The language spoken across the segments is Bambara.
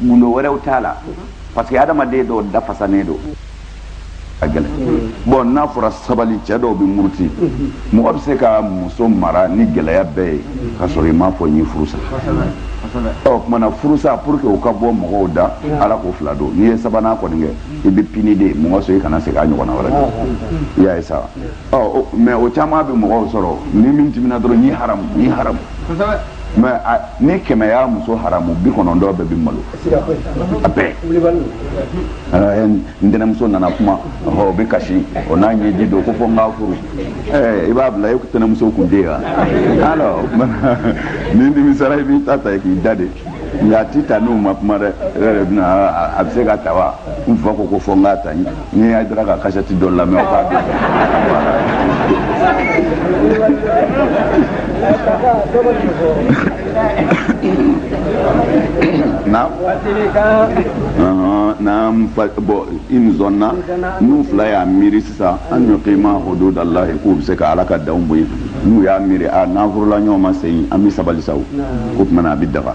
gundo wɛrɛw t'a la parce que adamaden dɔw dafasanen don ka gɛlɛn bon n'a fɔra sabali cɛ dɔw bɛ muruti mɔgɔ bɛ se ka muso mara ni gɛlɛya bɛɛ ye ka sɔrɔ i m'a fɔ n y'i furu sa o kuma na furusa pour que o ka bɔ mɔgɔw da ala ko fila don n'i ye sabanan kɔni kɛ i bɛ puni de mɔgɔ sɔrɔ i kana segin a ɲɔgɔnna wɛrɛ kan i y'a ye sa ɔ mais o caman bɛ mɔgɔw sɔrɔ ni min dimina dɔrɔn n y'i haramu n y'i haramu mais ni kɛmɛ y'a muso haramu bi kɔnɔntɔn bɛɛ bɛ malo a bɛɛ n tɛnɛmuso nana kuma o bɛ kasi o n'a ɲɛji don ko fo n k'a furu i b'a bila e tɛnɛmuso kun tɛ yan alors n'i nimisara i b'i ta ta k'i da de nka a ti ta n'u ma kuma dɛ e yɛrɛ bɛna a bɛ se ka ta wa n fa ko ko fo n k'a ta n ye n'i ye hayidara ka kasɛti dɔ lamɛn o k'a dɔn na n'an bon in zanna n'u fila y'a miiri sisan an yukima hududa llah k'u bɛ se ka ala ka danw bɔ yen n'u y'a miiri a n'an furula ɲɔgɔn ma se yen an bɛ sabali sa o tuma na a bɛ daga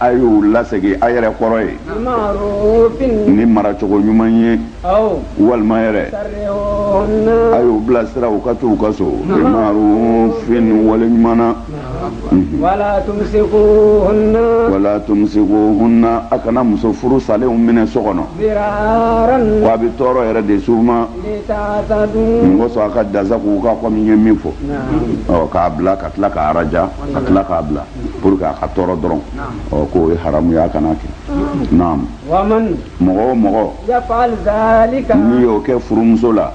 a y'u lasegin a yɛrɛ kɔrɔ ye ni maracogo ɲuman ye walima yɛrɛ a y'u bilasira u ka taa u ka so marufin wale ɲuman na wala tumsikuhunna a kana muso furu salenw minɛ so kɔnɔ ko a bɛ tɔɔrɔ yɛrɛ de s'u ma mun kosɔn a ka dansagon u kan kɔmi ye min fɔ k'a bila ka tila k'a araja ka tila k'a bila pour que a ka tɔɔrɔ dɔrɔn ɔ k'o ye haramu ye a kana kɛ naam mɔgɔ o mɔgɔ n'i y'o kɛ furumuso la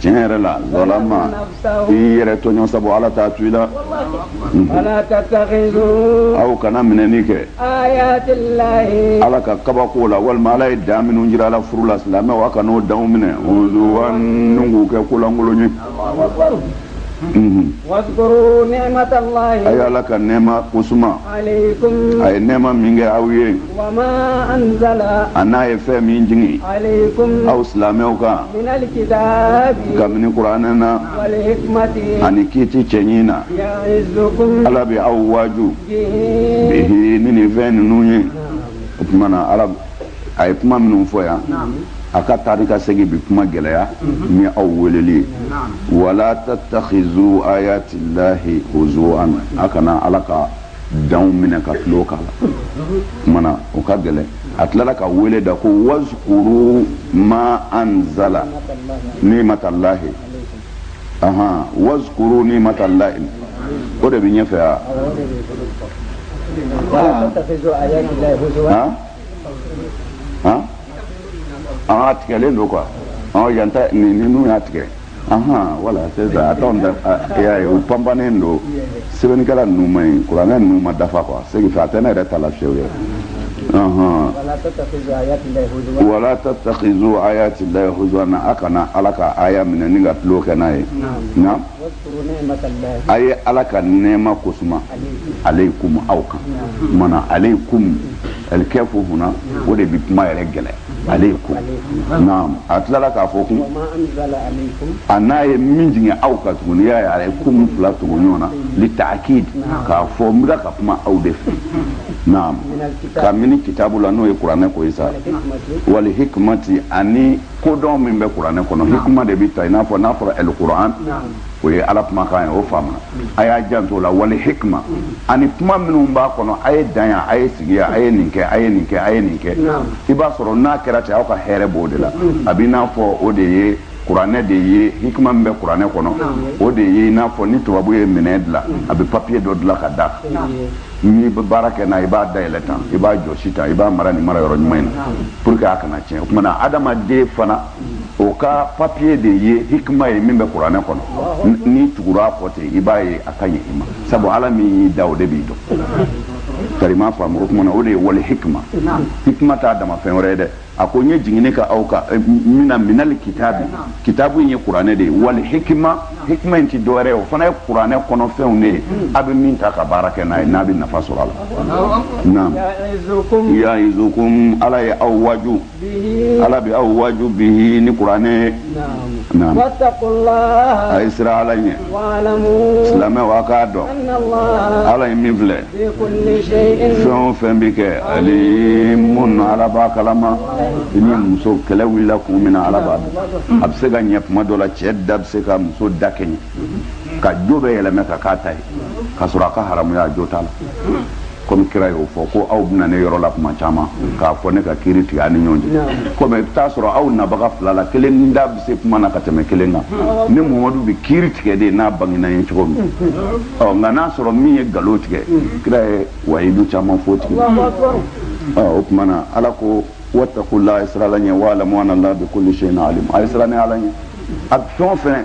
tiɲɛ yɛrɛ la zalama i yɛrɛ tɔɲɔ sabu ala t'a to i la aw kana minɛni kɛ ala ka kabako la walima ala ye dan minnu jira aw la furu la silamɛw aw kan'o danw minɛ k'u kɛ ko lankolon ye wazkuru ni'matallahi a ye ala ka nɛɛma ko suma alaykum a ye nɛɛma min kɛ aw ye wa ma anzala a n'a ye fɛn min jigin alaykum aw silamɛw kan min alkitabi kabini kuranɛ na wal hikmati ani kiiti cɛɲi na ya'izukum ala bɛ aw waaju bihi bihi ni nin fɛn ninnu ye o tuma na ala a ye kuma minnu fɔ yan a ka taari ka segin bi kuma gɛlɛya ni aw weleli ye wala tattakhizu ayati llahi huzuan a kana ala ka danw minɛ ka tulon k'a la kuma na o ka gɛlɛn a tilala ka wele da ko wazkuru ma anzala nimatallahi ahan wazkuru nimatalayi o de bɛ ɲɛfɛ wa. a tigɛlen don quoi yan ta ninnu y'a tigɛ voilà c'est ça a tɔn da y'a ye u panpannen don sɛbɛnnikɛla ninnu ma ɲi kuranɛ ninnu ma dafa quoi c'est que a tɛ ne yɛrɛ ta la fiyewu yɛrɛ wala tattakizu ayati lahi huzuwana a kana ala ka aya minɛ ni ka tulon kɛ n'a ye naam a ye ala ka nɛɛma kosuma aleyikumu aw kan mana aleyikumu alikefu huna o de bi kuma yɛrɛ gɛlɛ aleyikumu naam a tilala k'a fɔ kun ani a ye min jigin aw kan tuguni y'a ye aleyikumu fila tugu ɲɔgɔn na li taakid k'a fɔ n bɛ ka kuma aw de fɛ naam ka minɛ kitabu la n'o ye kuranɛ ko ye sa wali hikimati ani kodɔn min bɛ kuranɛ kɔnɔ hikima de bɛ ta i n'a fɔ n'a fɔra ɛl kuran o ye ala kumakan ye o faamuna a y'a janto la wali hikima ani kuma minnu b'a kɔnɔ a ye dan yan a ye sigi yan a ye nin kɛ a ye nin kɛ a ye nin kɛ i b'a sɔrɔ n'a kɛra ten aw ka hɛrɛ b'o de la a b'i n'a fɔ o de ye kuranɛ de ye hikima min bɛ kuranɛ kɔnɔ o de ye i n'a fɔ ni tubabu ye minɛn dilan a bɛ papiye dɔ dilan ka da n'i bɛ baara kɛ n'a i b'a dayɛlɛ tan i b'a jɔsi tan i b'a mara nin mara yɔrɔ ɲuman in na pour que a kana tiɲɛ o tuma na adamaden fana o ka papiye de ye hikima ye min bɛ kuranɛ kɔnɔ n'i tugura a kɔ ten i b'a ye a ka ɲi i ma sabu ala min y'i da o de b'i dɔn kari m'a faamu o tuma na o de ye wali hikima hikima t'a dama fɛn wɛrɛ ye dɛ a ko n ye jiginni kɛ aw kan eh, mina minali kitaabi kitaabu in ye kuranɛ de ye wali hikima hikima in ti dɔwɛrɛ ye o fana ye kuranɛ kɔnɔ fɛnw de ye a bɛ min ta ka baara kɛ n'a ye n'a bɛ nafa sɔrɔ a la naam yaizukum ala ye aw waju ala bɛ aw waju bi ni kuranɛ a ye siran ala ɲɛ silamɛw a k'a dɔn ala ye min filɛ fɛn o fɛn bɛ kɛ ani mun ala b'a kalama i ni muso kɛlɛ wulila kun min na ala b'a dɔn a bɛ se ka ɲɛ kuma dɔ la cɛ da bɛ se ka muso da kɛɲɛ ka jo bɛɛ yɛlɛma k'a k'a ta ye ka sɔrɔ a ka haramuya a jo t'a la komi kira y'o fɔ ko aw bɛ na ne yɔrɔ la kuma caman k'a fɔ ne ka kiri tigɛ a ni ɲɔgɔn cɛ komi i bɛ taa sɔrɔ aw nabaga fila la kelen da bɛ se kuma na ka tɛmɛ kelen kan ne muhamadu bɛ kiri tigɛ de n'a bangena ye cogo min nka n'a sɔrɔ min ye nkalon tigɛ kira ye wayidu caman f'o tigi o tuma na ala ko watakula a ye siran ala ɲɛ wa'alamu anala bikuli seyin alim a ye siran ala ɲɛ a fɛn o fɛn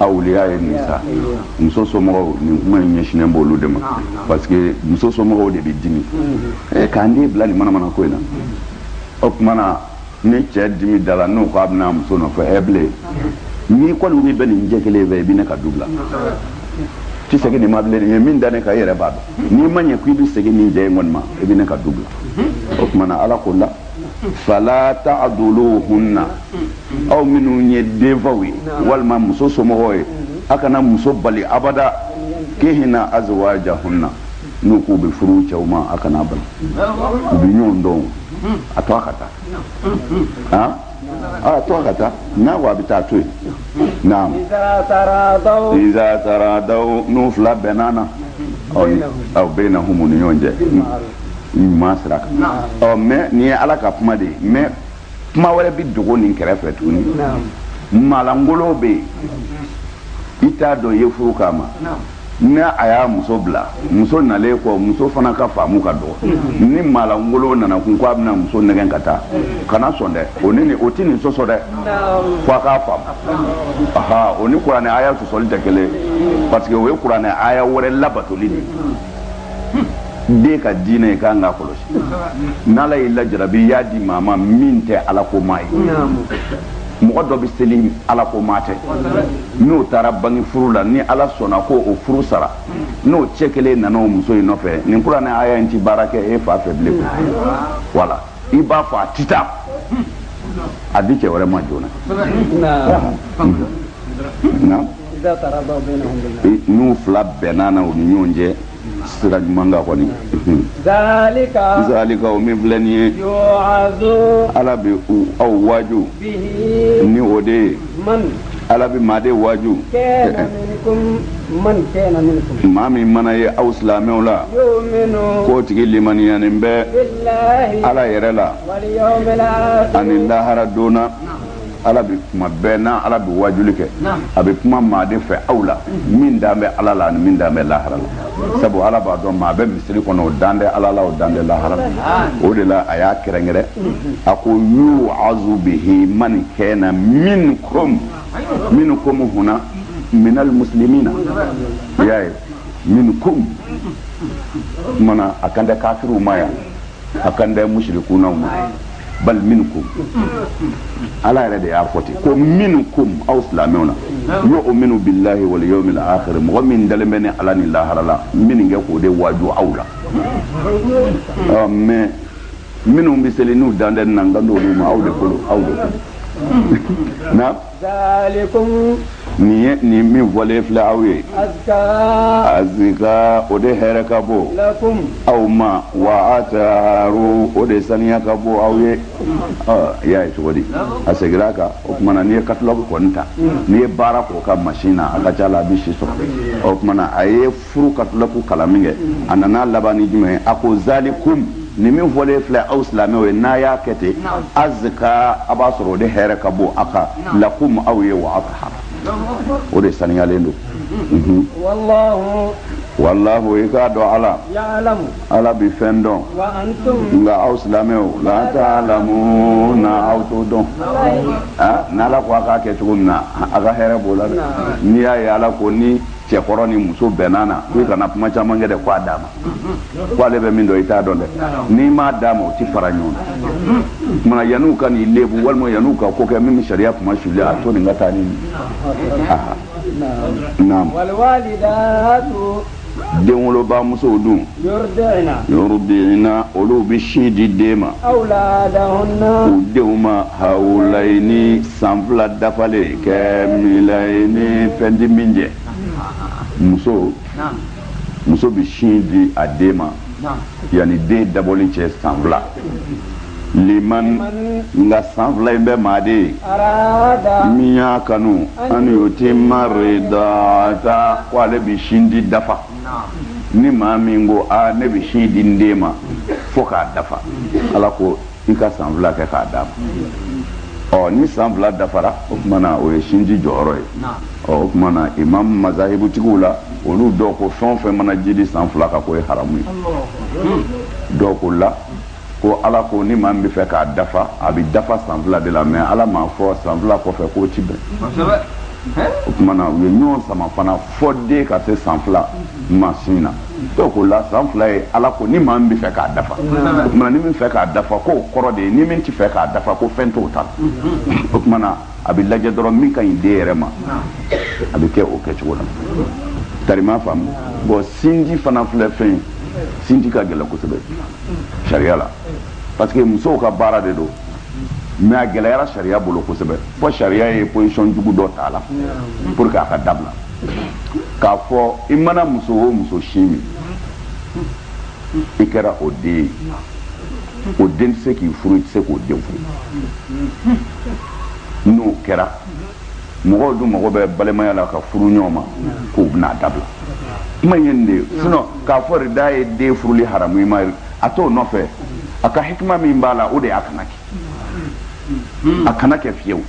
awuliya ye nin sa muso somɔgɔw nin kuma in ɲɛsinnen b'olu de ma parce que muso somɔgɔw de bɛ dimi e k'an den bila nin manamana ko in na o tuma na ni cɛ dimi dala n'o ko a bɛ na muso nɔfɛ ɛ bilen n'i kɔni ko i bɛ nin cɛ kelen fɛ i bɛ ne ka du bila ti segin nin ma bilen nin ye min da ne kan i yɛrɛ b'a dɔn n'i ma ɲɛ ko i bɛ segin nin cɛ in kɔni ma i bɛ ne ka du bila o tuma na ala k'o la fala ta'duluhunna aw minnu ye denfaw ye walima muso somɔgɔw ye a kana muso bali abada yankihna azwajahunna n'u k'u bɛ furu cɛw ma a kan'u bali u bɛ ɲɔgɔn dɔn a to a ka taa a to a ka taa n'a ko a bɛ taa to yen naam iza taradaw n'u fila bɛnna na baynahum u ni ɲɔgɔn cɛ ɲuman sira kan ɔ mɛ nin ye ala ka kuma de ye mɛ kuma wɛrɛ bɛ dogo nin kɛrɛfɛ tuguni maalankolo bɛ yen i t'a dɔn i ye furu k'a ma ni a y'a muso bila muso nalen kɔ muso fana ka faamu ka dɔgɔ mm-hmm. ni maalankolo nana tugun ko a bɛna muso nɛgɛn ka taa mm-hmm. kana sɔn dɛ o ni o tɛ nin sɔsɔ dɛ fo a k'a faamu mm-hmm. aha o ni kuranɛ aya sɔsɔli tɛ kelen parce que o ye kuranɛ aya wɛrɛ labatoli de ye den ka diinɛ ye k'an k'a kɔlɔsi n'ala y'i lajarabi i y'a di maa ma min tɛ alakomaa ye mɔgɔ dɔ bɛ seli alakomaa tɛ n'o taara bange furu la ni ala sɔnna ko o furu sara n'o cɛ kelen nana o muso in nɔfɛ nin kuranɛ aya in tɛ baara kɛ e fa fɛ bilen walayi i b'a fɔ a tɛ taa a di cɛ wɛrɛ ma joona n'u fila bɛnna na u ni ɲɔgɔn cɛ sira ɲuman kan kɔni zalika o min filɛ nin ye ala bɛ aw waaju ni o de ye ala bɛ maa de waaju maa min mana ye aw silamɛw la k'o tigi limaniyanen bɛ ala yɛrɛ la ani lahara don na ala bɛ kuma bɛɛ n'a ala bɛ wajuli kɛ a bɛ kuma maa de fɛ aw la min dan bɛ ala la ani min dan bɛ lahara la sabu ala b'a dɔn maa bɛ misiri kɔnɔ o dan tɛ ala la o dan tɛ lahara la o de la a y'a kɛrɛnkɛrɛn a ko yu'azu bihi man kana minkum minkum huna minal muslimina i y'a ye minkum o maana a kan tɛ kafiriw ma yan a kan tɛ mushrikunaw ma bal minkum ala yɛrɛ de y'a fɔ ten ko minkum aw silamɛw na yu'minu billahi wal yawmil akhir mɔgɔ min dalen bɛ ne ala ni lahara la ne bɛ k'o de waaju aw la ɔ mais minnu bɛ seli n'u dan tɛ n na n kan t'olu ma aw de kolo aw de kolo na nin ye nin min fɔlen filɛ aw ye azka o de hɛrɛ ka bon aw ma wa athar o de saniya ka bon aw ye i y'a ye cogo di a seginna a kan o tuma na n'i ye katulɔku kɔni ta n'i ye baara k'o ka masin na a ka ca la a bɛ si sɔrɔ o tuma na a ye furu ka tila k'u kalan min kɛ a nana laban ni jumɛn ye a ko zalikum nin min fɔlen filɛ aw silamɛw ye n'a y'a kɛ ten azka a b'a sɔrɔ o de hɛrɛ ka bon azka lakum aw ye wa athar o de saniyalen don mhm. walahu i k'a dɔn ala ala bi fɛn dɔn nka aw silamɛw la ta'lamuna aw t'o dɔn n'ala ko a k'a kɛ cogo min na a ka hɛrɛ b'o la dɛ n'i y'a ye ala ko ni cɛkɔrɔ ni muso bɛnna na k'i kana kuma caman kɛ dɛ k'a d'a ma ko ale bɛ min dɔn i t'a dɔn dɛ n'i m'a d'a ma u ti fara ɲɔgɔn na o tuma na yan'u ka n'i lebu walima yan'u ka ko kɛ min bɛ sariya kunmasuli a to nin ka taa ni naam denwolobamusow dun yurdi'na olu bɛ sin di den ma u denw ma hawlayni san fila dafalen kamilayni fɛn ti min jɛ muso muso bɛ sin di a den ma yanni den dabɔli cɛ san fila liman nka san fila in bɛ maa de ye min y'a kanu an yutimma rada'ata ko ale bɛ sin di dafa ni maa min ko aa ne bɛ sin di n den ma fo k'a dafa ala ko i ka san fila kɛ k'a d'a ma ɔ ni san fila dafara o tuma na o ye sindi jɔyɔrɔ ye ɔ o tuma na imam mazahibutigiw la olu dɔw ko fɛn o fɛn mana jidi san fila kan k'o ye haramu ye dɔw ko la Ko Ala ko ni maa min bɛ fɛ k'a dafa, a bɛ dafa san fila de la mais Ala m'a fɔ san fila kɔfɛ k'o tɛ bɛn. Kosɛbɛ! O tuma na u ye ɲɔgɔn sama fana fo den ka se san fila ma sin na. Donc o la san fila ye Ala ko ni maa min bɛ fɛ k'a dafa. Kosɛbɛ! O tuma na ni min fɛ k'a dafa k'o kɔrɔ de ye ni min tɛ fɛ k'a dafa ko fɛn t'o ta la. Unhun! O tuma na a bɛ lajɛ dɔrɔn min ka ɲi den yɛrɛ ma a bɛ kɛ o kɛcogo la tari i m'a faamu bon sindi fana filɛ fɛn sindi ka gɛlɛn kosɛbɛ sariya la parce que musow ka baara de don mais a gɛlɛyara sariya bolo kosɛbɛ fo sariya ye posisɔn jugu dɔ ta la pour que a ka dabila k'a fɔ i mana muso o muso sin min i kɛra o den ye o den tɛ se k'i furu i tɛ se k'o den furu n'o kɛra mɔgɔw dun mago bɛ balimaya la ka furu ɲɔgɔn ma k'o bɛna dabila kuma ye nin de ye sinon k'a fɔ rada'a ye den furuli haramu i ma a t'o nɔfɛ a ka hikima min b'a la o de y'a kana kɛ hmm. a kana kɛ fiyewu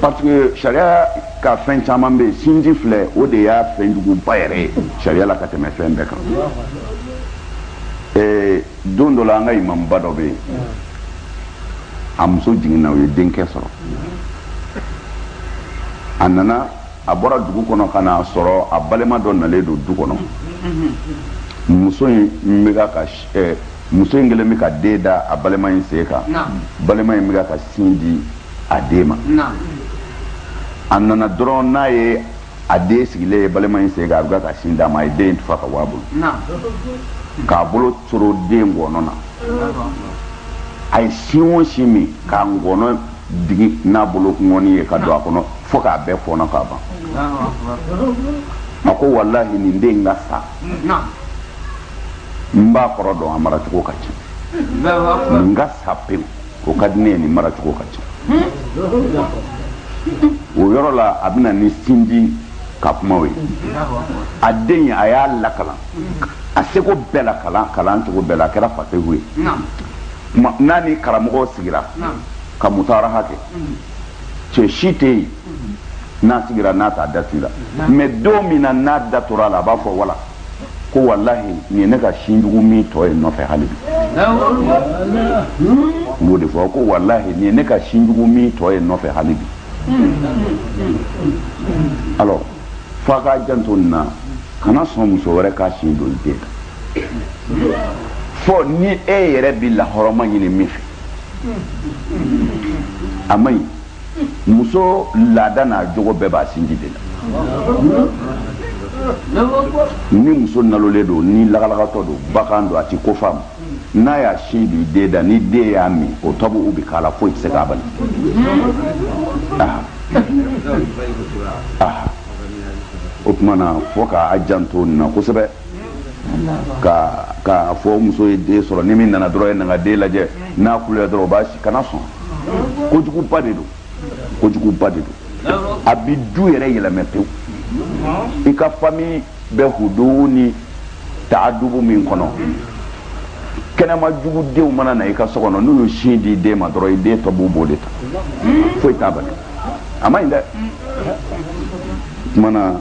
parce que sariya ka fɛn caman bɛ yen sinji filɛ o de y'a fɛn juguba yɛrɛ ye sariya la ka tɛmɛ fɛn bɛɛ kan eh, don dɔ la an ka imamuba dɔ bɛ yen a muso jiginna u ye denkɛ sɔrɔ a nana a bɔra dugu kɔnɔ ka n'a sɔrɔ a balima dɔ nalen don du kɔnɔ muso in bɛ ka ka eh, muso in kɛlen bɛ ka den da a balima in sen kan balima in bɛ ka sin di a den ma a nana dɔrɔn n'a ye a den sigilen ye balima in sen kan a bɛ ka sin d'a ma a ye den in tufa ka bɔ a bolo k'a bolo coro den ngɔnɔ na a ye sin o sin min k'a ngɔnɔ digi n'a bolonkɔni ye ka don a kɔnɔ fo k'a bɛɛ fɔnɔ k'a ban a ko walahi nin den ka sa n b'a kɔrɔ dɔn a maracogo ka cɛn nin ka sa pewu o ka di ne ye nin maracogo ka cɛn o yɔrɔ la a bɛna ni sinji ka kumaw ye a den a y'a lakalan a seko bɛɛ la kalan kalan cogo bɛɛ la a kɛra fasehu ye n'a ni karamɔgɔ sigira ka mutaraha kɛ cɛ si tɛ yen n'a sigira n'a t'a dato a la mais don min na n'a datora a la a b'a fɔ wala ko walahi nin ye ne ka sinjugu min tɔ ye nɔfɛ hali bi n b'o de fɔ ko walahi nin ye ne ka sinjugu min tɔ ye nɔfɛ hali bi alors f'a k'a janto nin na kana sɔn muso wɛrɛ k'a sin don i den na fo ni e yɛrɛ bi lahɔrɔma ɲini min fɛ a man ɲi muso laada n'a jogo bɛɛ b'a sinji de la ni muso nalolen don ni lagalagatɔ don bagan don a ti ko faamu n'a y'a sin don i den da ni den y'a min o tɔbuu bi k'a la foyi tɛ se k'a bali o tuma na fo k'a janto nin na kosɛbɛ ka k'a fɔ muso ye den sɔrɔ ni min nana dɔrɔn ye nana den lajɛ n'a kuluyara dɔrɔn o b'a sin kana sɔn kojuguba de don kojuguba de don a bi du yɛrɛ yɛlɛmɛ pewu i ka fami bɛ huduu ni taadubu min kɔnɔ kɛnɛma jugu denw mana na i ka so kɔnɔ n'u y'u sin di i den ma dɔrɔn i den tɔbuu b'o de ta foyi t'a bali a man ɲi dɛ kumana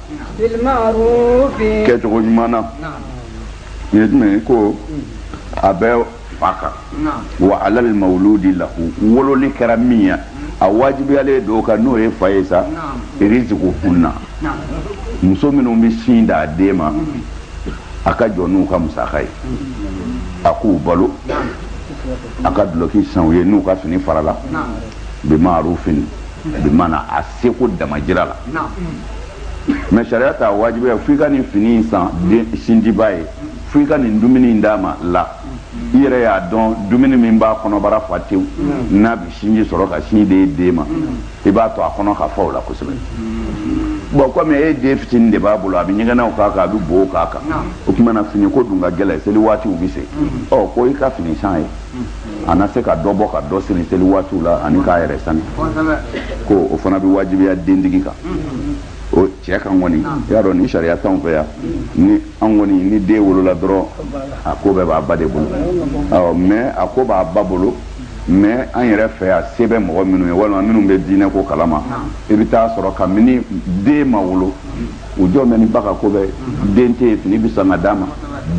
kɛcogo ɲuman na nin ye jumɛn ye ko a bɛ fa kan wa alal mawuludi lahu wololi kɛra min ye a wajibiyalen don o kan n'o ye fa ye sa rizikuhunna muso minnu bɛ sin d'a den ma a ka jɔ n'u ka musaka ye a k'u balo a ka duloki san u ye n'u ka fini farala bi maarufin bi mana a seko damajira la mɛ sariya t'a wajibiya fo i ka nin fini in san sinjiba ye fo i ka nin dumuni in d'a ma la i yɛrɛ y'a dɔn dumuni min b'a kɔnɔbara fa tewu n'a bi sinji sɔrɔ ka sin di den ma i b'a to a kɔnɔ ka fa o la kosɛbɛ bɔn kɔmi e den fitinin de b'a bolo a bɛ ɲɛgɛnɛw k'a kan a bɛ bo k'a kan o tuma na finiko dun ka gɛlɛn seli waatiw bɛ se ɔ ko i ka fini san a ye a na se ka dɔ bɔ ka dɔ siri seli waatiw la ani k'a yɛrɛ sani ko o fana bɛ wajibiya dentigi kan o cɛ kan kɔni i y'a dɔn nin sariya t'anw fɛ yan ni an kɔni ni den wolola dɔrɔn a ko bɛɛ b'a ba de bolo awɔ mɛ a ko b'a ba bolo mɛ an yɛrɛ fɛ yan se bɛ mɔgɔ minnu ye walima minnu bɛ diinɛko kalama i bɛ taa sɔrɔ kabini den ma wolo u jɔlen bɛ ni ba ka ko ye den tɛ fini bɛ san ka d'a ma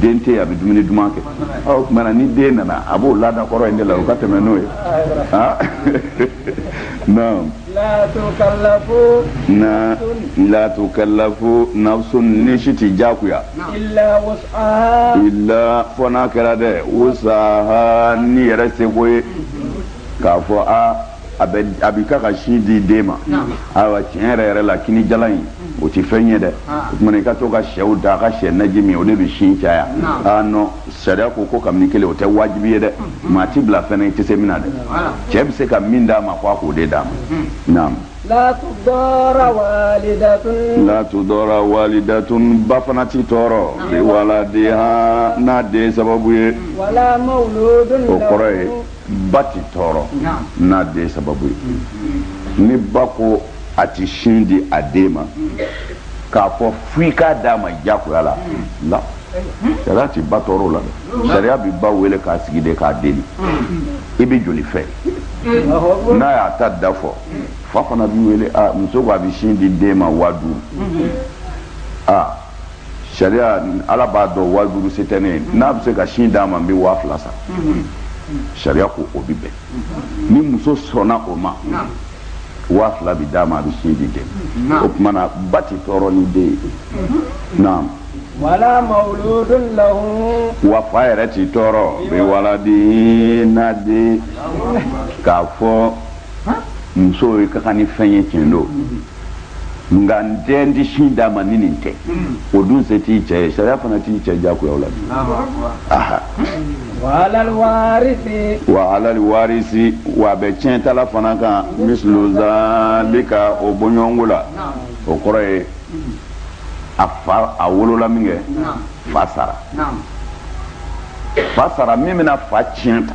den tɛ a bɛ dumuni duman kɛ ɔ tuma na ni den nana a b'o laada kɔrɔ in de la o ka tɛmɛ n'o ye ah naam la tukallafu na la tukallafu nafsun ni si tɛ jagoya illa wus'aha illa fo n'a kɛra dɛ wusaha ni yɛrɛ seko ye k'a fɔ a a bɛ a b'i ka ka sin di den ma ayiwa tiɲɛ yɛrɛ yɛrɛ la kini jalan in mm. o tɛ fɛn ye dɛ ah. o tumana i ka to ka syɛw da a ka syɛ naji min o de bɛ sin caya aa nɔn sariya ko ko kabini kelen o tɛ wajibi ye dɛ mm. maa ti bila fɛn na i tɛ se min na dɛ cɛ bɛ se ka min d'a ma ko a k'o de d'a ma mm. naam. la tudɔra walidatun. la tudɔra walidatun ba fana ti tɔɔrɔ. biwaladiha n'a den sababu ye. wala mawuludun. o kɔrɔ ye. ba tɛ tɔɔrɔ n'a den sababu ye ni ba ko a tɛ sin di a den ma k'a fɔ fo i k'a d'a ma diyagoya la la sariya tɛ ba tɔɔrɔ o la dɛ sariya bɛ ba wele k'a sigi de k'a deli i bɛ joli fɛ n'a y'a ta da fɔ fa fana bi wele muso ko a bɛ sin di den ma waa duuru aa sariya ala b'a dɔn waa duuru se tɛ ne ye n'a bɛ se ka sin d'a ma n bɛ waa fila sara sariya ko o bɛ bɛn ni muso sɔnna o ma waa fila bɛ d'a ma a bɛ sin di den o tuma na ba tɛ tɔɔrɔ ni den ye naam wala mawuludun lahu wa fa yɛrɛ ti tɔɔrɔ biwaladi n'a den k'a fɔ muso ye ka kan ni fɛn ye tiɲɛ don nka n tɛ n tɛ sin d'a ma ni nin tɛ o dun se t'i cɛ ye sariya fana t'i cɛ jagoya o la bi aha wa alal warisi wa alal warisi wa a bɛ tiɲɛtala fana kan mislu zalika o bɔɲɔgɔnko la o kɔrɔ ye a fa a wolola min kɛ fa sara fa sara min bɛna fa tiɲɛ ta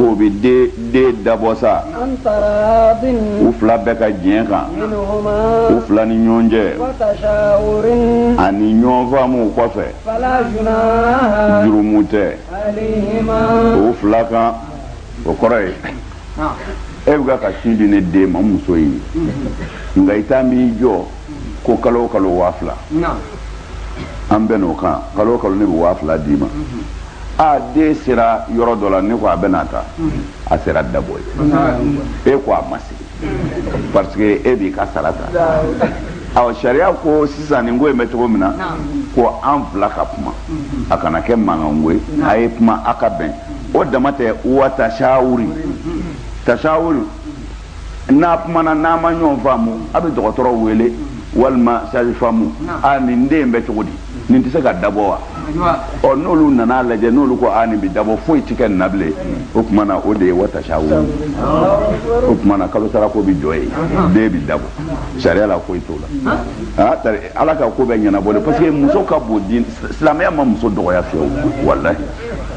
o bɛ den dabɔ sa u fila bɛɛ ka diɲɛ kan u fila ni ɲɔgɔn cɛ ani ɲɔgɔnfaamu kɔfɛ jurumu tɛ u fila kan o kɔrɔ ye e bɛ ka sin di ne den ma muso ye nka i t'an b'i jɔ ko kalo o kalo waa fila an bɛnn'o kan kalo o kalo ne bɛ waa fila d'i ma aa den sera yɔrɔ dɔ la ne ko a bɛ na ta a sera dabɔ ye e ko a ma se parce que e b'i ka sara ta a sariya ko sisan nin ko in bɛ cogo min na ko an fila ka kuma a kana kɛ mankanko ye a ye kuma a ka bɛn o dama tɛ wa tasawuri tasawuri n'a kumana n'a ma ɲɔgɔn faamu a bɛ dɔgɔtɔrɔ wele walima sage-femme a nin den bɛ cogo di nin tɛ se ka dabɔ wa ɔ n'olu nan'a lajɛ n'olu ko a nin bɛ dabɔ foyi tɛ kɛ nin na bilen o tuma na o de ye wa tasawur o tuma na kalosarako bɛ jɔ yen den bɛ dabɔ sariya la foyi t'o la aa tari ala ka ko bɛɛ ɲɛnabɔ de parce que muso ka bon dɛ silamɛya ma muso dɔgɔya fiyewu walahi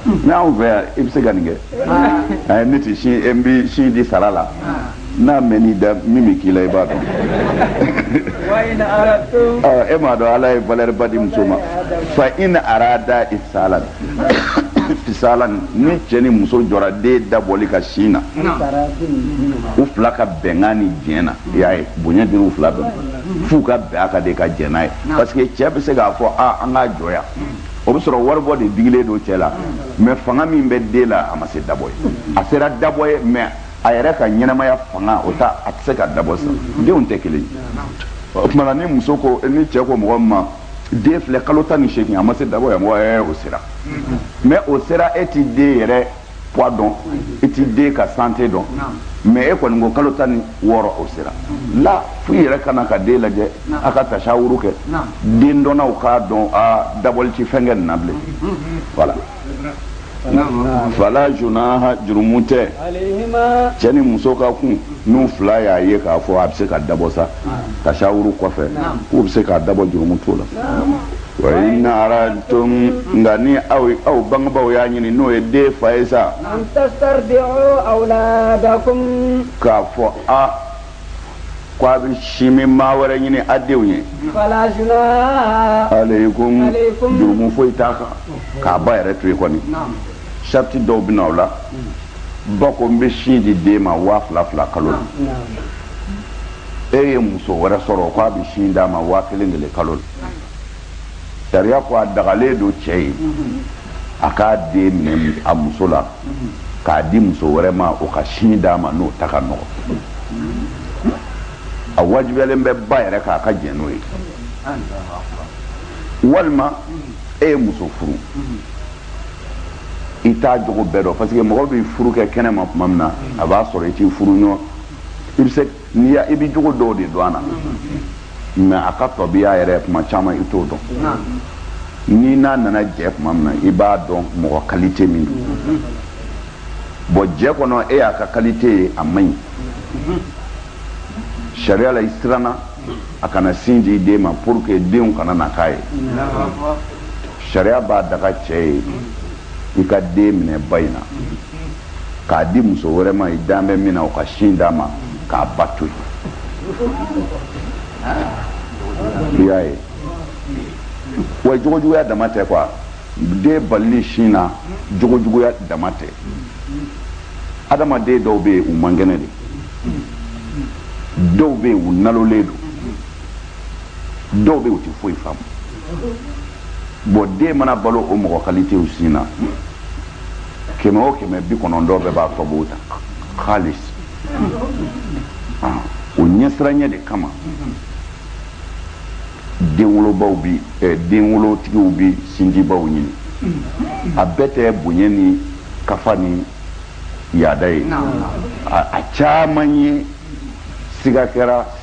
n'anw fɛ yan i bɛ se ka nin kɛ ne tɛ sin n bɛ sin di sara la n'a mɛnn'i da min bɛ k'i la i b'a dɔn e m'a dɔn ala ye valeur ba di muso ma fa in arada fisalan fisalan ni cɛ ni muso jɔra den dabɔli kan sin na u fila ka bɛnkan ni diɲɛ na i y'a ye bonya dira u fila bɛɛ f'u ka bɛn a ka de ka jɛn n'a ye parce que cɛ bɛ se k'a fɔ a an k'a jɔ yan o bɛ sɔrɔ waribɔ de digilen don cɛ la mais fanga min bɛ den la a ma se dabɔ ye a sera dabɔ ye mais a yɛrɛ ka ɲɛnamaya fanga o ta a tɛ se ka dabɔ sa denw tɛ kelen o tuma na ni muso ko ni cɛ ko mɔgɔ ma den filɛ kalo tan ni seegin a ma se dabɔ ye wa mɔgɔ ɛɛ o sera mais o sera e ti den yɛrɛ poids dɔn i ti den ka santé dɔn mais e kɔni ko kalo tan ni wɔɔrɔ o sera la fo i yɛrɛ ka na ka den lajɛ a ka tasawuru kɛ dendɔnnaw k'a dɔn a dabɔli tɛ fɛn kɛ nin na bilen voilà fala junaha jurumu tɛ cɛ ni muso kan ko n'u fila y'a ye k'a fɔ a bɛ se ka dabɔ sa tasawuru kɔfɛ k'u bɛ se k'a dabɔ jurumu t'o la wa in aradtum nka ni aw aw bangebaaw y'a ɲini n'o ye den fa ye sa k'a fɔ a ko a bɛ sin min maa wɛrɛ ɲini a denw ye alaykum jurumu foyi t'a kan k'a ba yɛrɛ to yen kɔni sariti dɔw bɛ na o la ba ko n bɛ sin di den ma waa fila fila kalo la e ye muso wɛrɛ sɔrɔ k'a bɛ sin d'a ma waa kelen kelen kalo la sariya ko a dagalen don cɛ ye a k'a den minɛ a muso la k'a di muso wɛrɛ ma o ka sin d'a ma n'o ta ka nɔgɔ a wajibiyalen bɛ ba yɛrɛ kan ka jɛn n'o ye walima e ye muso furu i t'a jogo bɛɛ dɔn parce que mɔgɔ bi furu kɛ kɛnɛ ma tuma min na a b'a sɔrɔ i t'i furuɲɔgɔn i bɛ se n'i y'a i bɛ jogo dɔw de dɔn a la mais a ka tɔbiya yɛrɛ tuma caman i t'o dɔn n'i n'a nana jɛ tuma min na i b'a dɔn mɔgɔ kalite min don bon jɛ kɔnɔ e y'a ka kalite ye a man ɲi sariya la i siranna a kana sin di den ma pour que denw kana na k'a ye sariya b'a daga cɛ ye i ka den minɛ ba in na k'a di muso wɛrɛ ma i da bɛ min na o ka sin d'a ma k'a ba to yen i y'a ye wa jogojuguya dama tɛ quoi den balili sin na jogojuguya dama tɛ adamaden dɔw bɛ yen u man kɛnɛ de dɔw bɛ yen u nalolen don dɔw bɛ u tɛ foyi faamu bon den mana balo o mɔgɔ kalitew sin na kɛmɛ o kɛmɛ bi kɔnɔntɔn bɛɛ b'a tɔbo ta halis o ɲɛsiranya de kama denwolobaw bi eh, denwolotigiw bi sindibaw ɲini a bɛɛ tɛ bonya ni kafa ni yaada ye a caman ye siga kɛra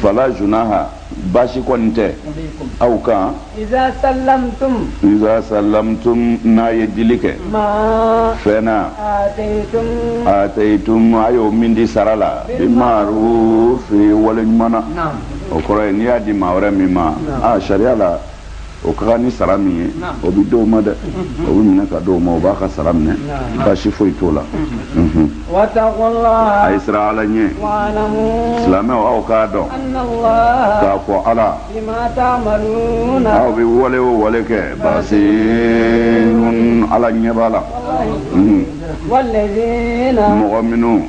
fala junaha baasi kɔni tɛ aw kan iza sallamtum iza sallamtum n'a ye dili kɛ ma fɛn na ataytum ataytum a y'o min di sara la bi ma'ruf wale ɲuman na o kɔrɔ ye n'i y'a di maa wɛrɛ min ma a sariya la o ka kan ni sara min ye o bɛ d'o ma dɛ o bɛ minɛ ka d'o ma o b'a ka sara minɛ baasi foyi t'o la a ye siran ala ɲɛ silamɛw aw k'a dɔn k'a fɔ ala aw bɛ wale o wale kɛ basirun ala ɲɛ b'a la mɔgɔ minnu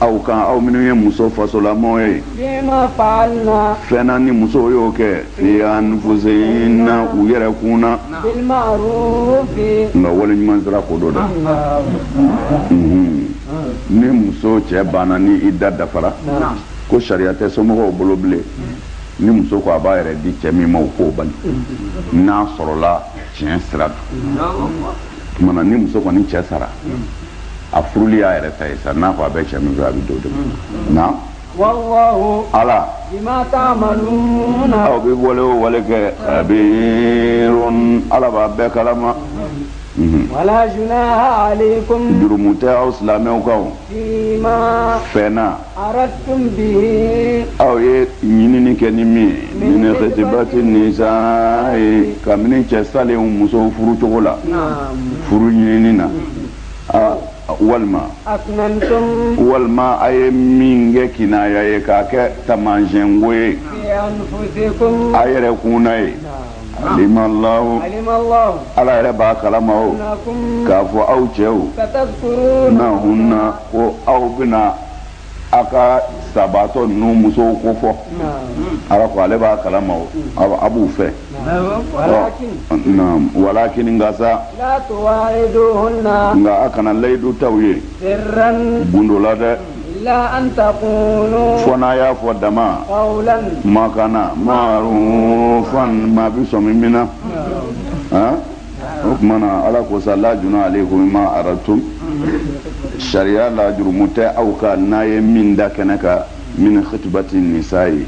aw kan aw minnu ye muso fasolamɔgɔ ye fima faalna fɛn na ni musow y'o kɛ fi anfusihinna u yɛrɛ kun na bil ma'rufi nka wale ɲuman sira ko don dɛ Mhm. ni muso cɛ banna ni ida dafara ko sariya tɛ somɔgɔw bolo bilen ni muso ko a b'a yɛrɛ di cɛ min ma u k'o bali n'a sɔrɔla tiɲɛ sira don tuma na ni muso kɔni cɛ sara a furuli y'a yɛrɛ ta ye sa n'a ko a bɛ cɛ min fɛ a bɛ d'o de ma ala aw bɛ wale o wale kɛ khabir ala b'a bɛɛ kalama Mhm. Wala junaha alaykum jurumu tɛ aw silamɛw kan fɛn na Aratum bihi aw ye ɲinini kɛ ni min ye min khitibati nisayi kabini cɛ salen musow furu cogo la furu ɲinini na aa walima walima a ye min kɛ kinaya ye k'a kɛ taamasiyɛn ko ye a yɛrɛ kun na ye alimallahu ala yɛrɛ b'a kalama k'a fɔ aw cɛw nahunna ko aw bɛna aw ka sabaatɔ ninnu musow ko fɔ ala ko ale b'a kalama o a b'u fɛ walakin nka sa nka a kana layidu ta u ye gundo la dɛ fo n'a y'a fɔ dama makana marufan maa bɛ sɔmi min na o tuma na ala ko sa la junaha alaykum fima aratum sariya la jurumu tɛ aw kan n'a ye min da kɛnɛ kan min khitibati nisayi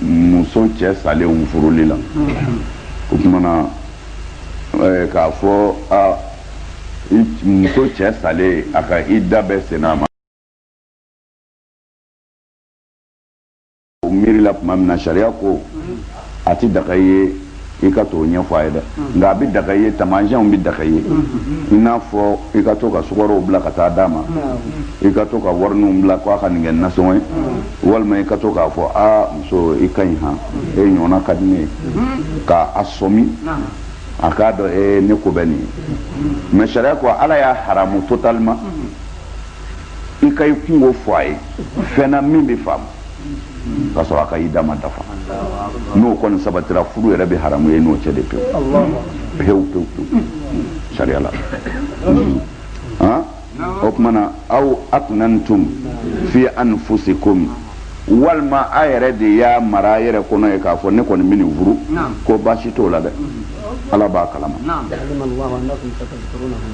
muso cɛ salenw furuli la o tuma na eh, k'a fɔ a muso cɛ salen a ka ida bɛ senna ma o miirila tuma min na sariya ko a tɛ daga ye i ka t'o ɲɛfɔ a ye dɛ nka a bɛ daga ye taamasiyɛnw bɛ daga ye i n'a fɔ i ka to ka sukɔrɔw bila ka taa d'a ma i ka to ka warininw bila k'a ka nin kɛ nasɔngɔ ye walima i ka to k'a fɔ aa muso i ka ɲi han e ɲɔgɔnna ka di ne ye ka a sɔmi a k'a dɔn ee ne ko bɛ nin na mɛ sariya ko ala y'a haramu totalement i ka i kunko fɔ a ye fɛn na min bɛ faamu ka sɔrɔ a ka ida ma dafa n'o kɔni sabatira furu yɛrɛ bɛ haramu e n'o cɛ dɛ pewu pewu pewu pewu sariya la o tuma na aw aknantum fi anfusikum walima a yɛrɛ de y'a mara a yɛrɛ kɔnɔ ye k'a fɔ ne kɔni bɛ nin furu ko baasi t'o la dɛ ala b'a kalama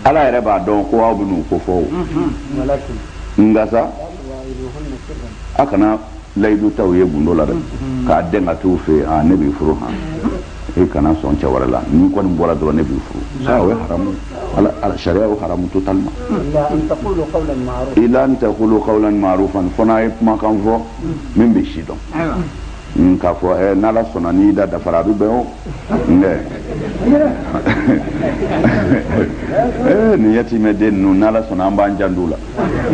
ala yɛrɛ b'a dɔn ko aw bɛn'u ko fɔ o nka sa a kana layidu ta u ye gundo la dɛ k'a dɛn ka t'u fɛ yen aa ne b'i furu han e kana sɔn cɛ wɛrɛ la n'i kɔni bɔra dɔrɔn ne b'i furu aa o ye haramu ala ala sariya y'o haramu totalement ila an taqulu qawlan ma'rufan fo n'a ye kumakan fɔ min bɛ sidɔn mm, k'a fɔ ɛ eh, n'ala sɔnna n'ida dafara a bɛ bɛn o nɛ eh, nin yatimɛ den ninnu n'ala sɔnna an b'an jant'u la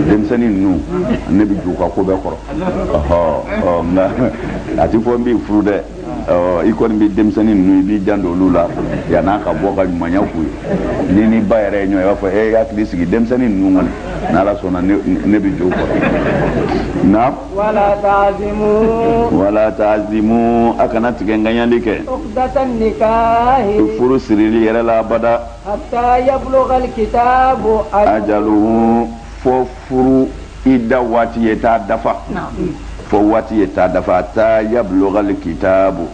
denmisɛnnin ninnu ne bɛ j'u ka ko bɛɛ kɔrɔ ɔhɔ nka a ti fɔ n b'i furu dɛ i kɔni bɛ denmisɛnnin ninnu i b'i janto olu la yann'a ka bɔ ka ɲumanya k'u ye n'i ni ba yɛrɛ ye ɲɔgɔn ye i b'a fɔ ee hakili sigi denmisɛnnin ninnu kɔni n'ala sɔnna ne bɛ j'u kɔrɔ na wala tazimu a kana tigɛ ŋaniyali kɛ furu sirili yɛrɛ la abada ajalu fo furu ida waati ye taa dafa fo waati ye taa dafa hata yablugal kitabu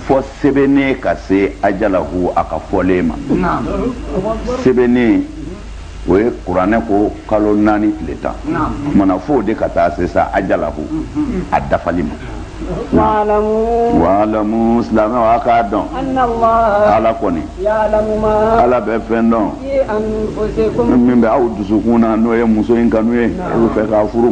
fo sɛbɛnnen ka se ajalahu a ka fɔlen ma sɛbɛnnen o ye kuranɛ ko kalo naani tile tan kuma na f'o de ka taa se sa ajalahu a dafali ma walamu silamɛw a k'a dɔn ala kɔni ala bɛ fɛn dɔn min bɛ aw dusukun na n'o ye muso in kanu ye i b'a fɛ k'a furu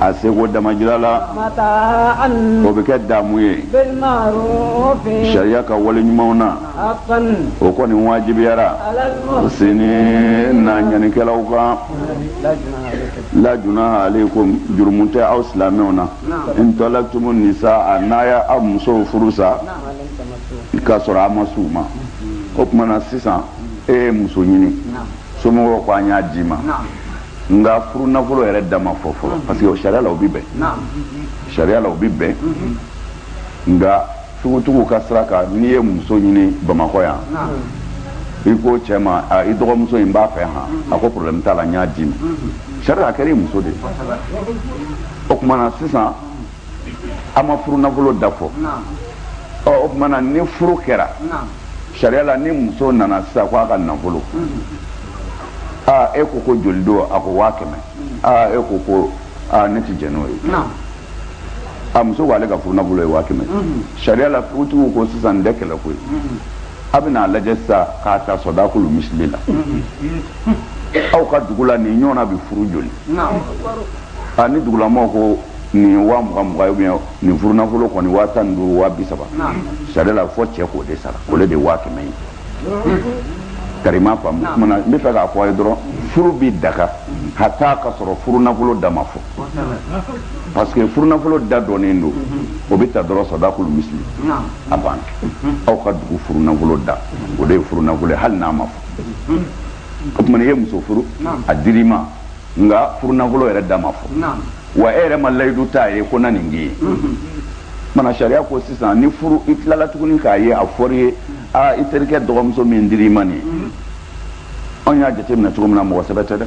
a seko damajira la o bɛ kɛ daamu ye sariya ka wale ɲumanw na o kɔni wajibiyara sini na ɲɛnikɛlaw kan la junaha alayikum jurumu tɛ aw silamɛw na in tɔlaktumu nisa a n'a y'aw musow furu sa k'a sɔrɔ a ma s'u ma o tuma na sisan e ye muso ɲini somɔgɔw ko an y'a d'i ma nka furu nafolo yɛrɛ da ma fɔ fɔlɔ parce que o sariya la o bɛ bɛn sariya la o bɛ bɛn nka sugutuguw ka sira kan n'i ye muso ɲini bamakɔ yan i ko cɛ ma i dɔgɔmuso in b'a fɛ han a ko problème t'a la n y'a d'i ma sariya a kɛra i muso de ye o tuma na sisan an ma furu nafolo da fɔ ɔ o tuma na ni furu kɛra sariya la ni muso nana sisan ko a ka nafolo aa e ko ko joli don a ko waa kɛmɛ aa e ko ko aa ne tɛ jɛn n'o ye a muso ko ale ka furu nafolo ye waa kɛmɛ sariya la furutigiw ko sisan nin tɛ kɛlɛ ko ye a bɛna a lajɛ sisan k'a ta sɔdakulu misili la aw ka dugu la nin ɲɔgɔnna bɛ furu joli a ni dugulamɔgɔw ko nin ye waa mugan mugan ye ou bien nin furunafolo kɔni waa tan ni duuru waa bi saba sariya la fɔ cɛ k'o de sara o le de ye waa kɛmɛ ye karima faamu kumana n b'a fɛ k'a fɔ a ye dɔrɔn furu bi daga hata ka sɔrɔ furunafolo da ma fɔ parce que furunafolo da dɔnnen don o bɛ ta dɔrɔn sadakulu misili a banna aw ka dugu furunafolo da o de ye furunafolo ye hali n'a ma fɔ o tuma na i ye muso furu a dir'i ma nka furunafolo yɛrɛ da ma fɔ wa e yɛrɛ ma layidu t'a ye ko n na nin k'i ye mana sariya ko sisan ni furu i tilala tuguni k'a ye a fɔr'i ye aa i terikɛ dɔgɔmuso min dir'i ma nin ye anw y'a jateminɛ cogo min na mɔgɔ sɛbɛ tɛ dɛ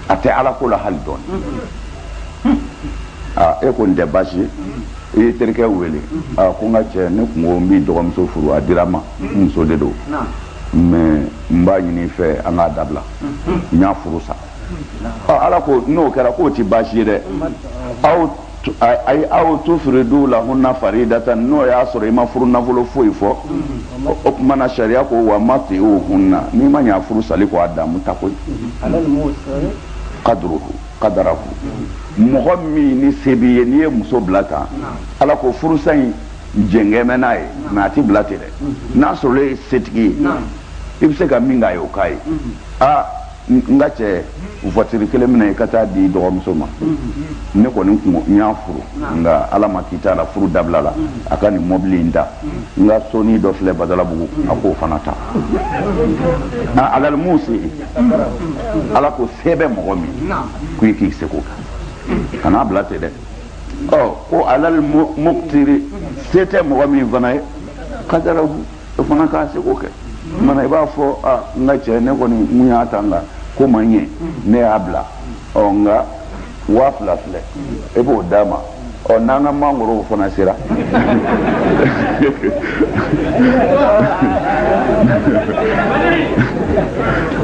a tɛ ala ko la hali dɔɔni aa e ko nin tɛ baasi ye i y'i terikɛ wele aa ko n ka cɛ ne tun ko n b'i dɔgɔmuso furu a dira n ma n muso de don mais n b'a ɲini i fɛ an k'a dabila n y'a furu sa ala ko n'o kɛra k'o ti baasi ye dɛ aw ayi aw tafridu lahunna faridatan n'o y'a sɔrɔ i ma furunafolo foyi fɔ o tuma na sariya ko wa matiuhunna n'i ma ɲa furu sali ko a damu ta koyi kaduruhu kadarahu mɔgɔ min ni se b'i ye n'i ye muso bila tan ala ko furusa in jɛngɛmɛ n'a ye mais a ti bila ten dɛ n'a sɔrɔ e ye setigi ye i bɛ se ka min k'a ye o k'a ye aa n ka cɛ voiture kelen minɛ i ka taa di dɔgɔmuso ma ne kɔni tun ko n y'a furu nka ala ma k'i t'a la furu dabila la a ka nin mɔbili in ta n ka sonin dɔ filɛ badalabugu a k'o fana ta alal musiyi ala ko se bɛ mɔgɔ min ko i k'i seko kɛ kan'a bila ten dɛ ɔ ko alal mukutiri se tɛ mɔgɔ min fana ye kadarahu o fana k'a seko kɛ mana i b'a fɔ a n ka cɛ ne kɔni tun y'a ta nka ko ma ɲɛ ne y'a bila ɔ nka waa fila filɛ e b'o d'a ma ɔ n'an ka mangorow fana sera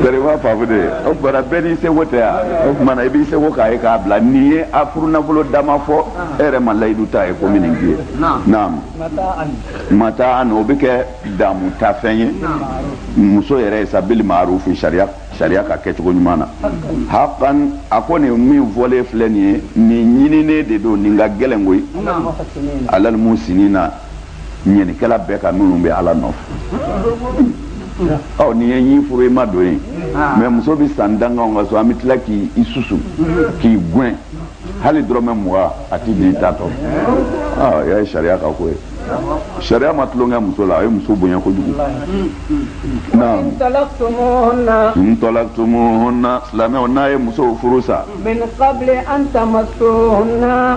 bari b'a faamu de o tuma na bɛɛ n'i seko tɛ yan o tuma na i b'i seko k'a ye k'a bila nin ye a furunafolo da ma fɔ e yɛrɛ ma layidu t'a ye ko n bɛ nin k'i ye naam mataan o bɛ kɛ damu tafɛn ye muso yɛrɛ ye sa bili maarufu sariya sariya ka kɛcogo ɲuman na hakan a ko nin min fɔlen filɛ nin ye nin ɲininen de don nin ka gɛlɛn koyi alal muhusinina ɲɛnikɛla bɛɛ kan minnu bɛ ala nɔfɛ ɔ n'i ye nin furu i ma don ye mais muso bɛ san tan k'an ka so an bɛ tila k'i susu k'i gɛn hali dɔrɔmɛ mugan a ti di ta tɔ ah, y'a ye sariya ka ko ye sariya ma tulonkɛ muso la a ye muso bonya kojugu naam in talaktumuhunna silamɛw n'a ye musow furu sa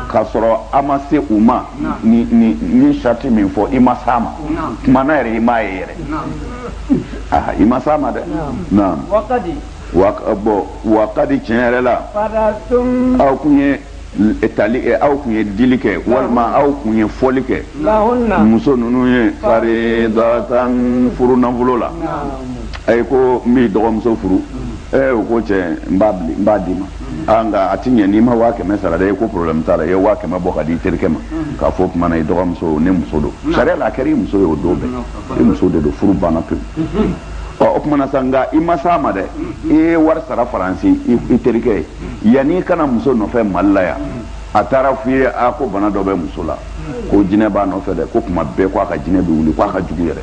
k'a sɔrɔ a ma se u ma n ye sariti min fɔ i ma s'a ma tuma na yɛrɛ i m'a ye yɛrɛ i ma s'a ma dɛ naam wa bon wa kadi tiɲɛ yɛrɛ la aw tun ye tali kɛ aw tun ye dili kɛ walima aw tun ye fɔli kɛ muso ninnu ye faridatan furu nafolo la a ye ko n b'i dɔgɔmuso furu ɛ u ko cɛ n b'a n b'a d'i ma aa nka a ti ɲɛ n'i ma waa kɛmɛ sara dɛ i ko problème t'a la i ye waa kɛmɛ bɔ k'a di i terikɛ ma k'a fɔ o tuma na i dɔgɔmuso ne muso don sariya la a kɛra i muso ye o don bɛɛ i muso de don furu banna pewu ɔ o tumana sa nka i ma s'a ma dɛ i ye wari sara faransi i terikɛ ye yanni i ka na muso nɔfɛ mali la yan a taara f'i ye a ko bana dɔ bɛ muso la ko jinɛ b'a nɔfɛ dɛ ko tuma bɛɛ ko a ka jinɛ bɛ wuli ko a ka jugu yɛrɛ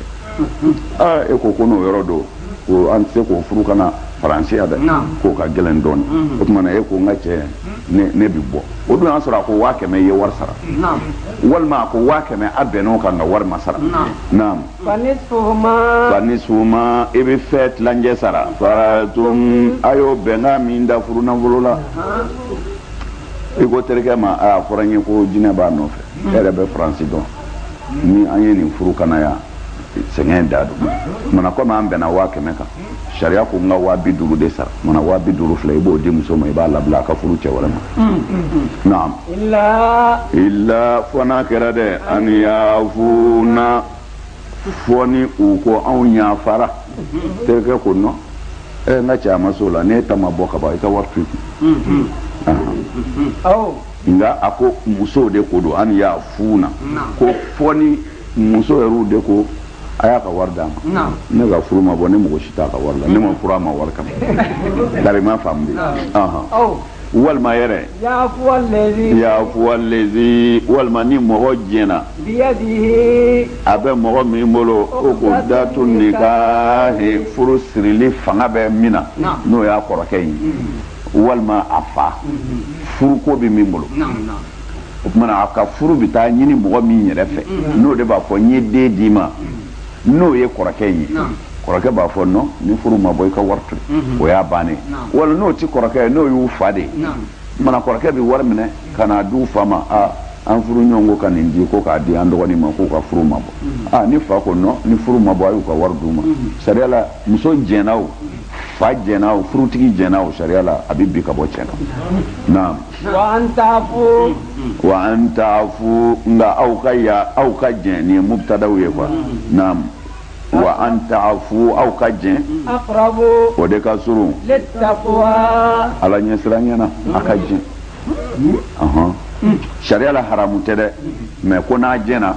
aa e ko ko n'o yɔrɔ don ko an tɛ se k'o furu ka na faransi yan dɛ k'o ka gɛlɛn dɔɔni mm-hmm. o tumana e ko n ka cɛ ne bɛ bɔ o dun y'a sɔrɔ a ko waa kɛmɛ i ye wari sara walima a ko waa kɛmɛ a bɛnn'o kan nka wari ma sara naam Fa nisfu ma fa nisfu ma i bɛ fɛn tilancɛ sara faradtum a y'o bɛnkan min da furu nafolo la i ko terikɛ ma a fɔra n ye ko jinɛ b'a nɔfɛ e yɛrɛ bɛ faransi dɔn ni an ye nin furu ka na yan sɛgɛn da dugu ma kɔmi an bɛnna waa kɛmɛ kan sariya ko n ka waa bi duuru de sara mana waa bi duuru filɛ i b'o di muso ma i b'a labila a ka furu cɛ wɛrɛ ma naam illa fɔ n'a kɛra dɛ an yafuna fɔ ni u ko anw yafara terikɛ ko nɔ ɛ n ka cɛ a ma s'o la n'e ta ma bɔ ka ban i ka wari to i kun nka a ko musow de ko don an yafuna ko fɔ ni muso yɛrɛw de ko a y'a ka wari d'a ma ne ka furu ma bɔ ne mako si t'a ka wari la ne ma furu a ma wari kama dari ma faamu de walima yɛrɛ yafuwa lezi walima ni mɔgɔ diɲɛna a bɛ mɔgɔ min bolo ukudatu nikahi furu sirili fanga bɛ min na n'o y'a kɔrɔkɛ ye walima a fa furuko bɛ min bolo o tumana a ka furu bɛ taa ɲini mɔgɔ min yɛrɛ fɛ n'o de b'a fɔ n ye den d'i ma n'o ye kɔrɔkɛ in ye kɔrɔkɛ b'a fɔ nɔ ni furu ma bɔ i ka wari to o y'a bannen wala n'o tɛ kɔrɔkɛ ye n'o y'u fa de ye mana kɔrɔkɛ bɛ wari minɛ ka n'a d'u fa ma aa an furuɲɔgɔn ko ka nin di ko k'a di an dɔgɔnin ma k'u ka furu ma bɔ aa ni fa ko nɔ ni furu ma bɔ a y'u ka wari d'u ma sariya la muso jɛnna o fa jɛnna o furutigi jɛnna o sariya la a bɛ bin ka bɔ cɛ in na naam wa an tafu wa an tafu nka aw ka ya aw ka jɛn nin ye mubtadaw ye quoi naam wa an tafu aw ka jɛn aqrabu o de ka surun littaqwa ala ɲɛsiranya na a ka jɛn ɔhɔn sariya la haramu tɛ dɛ mais ko n'a jɛnna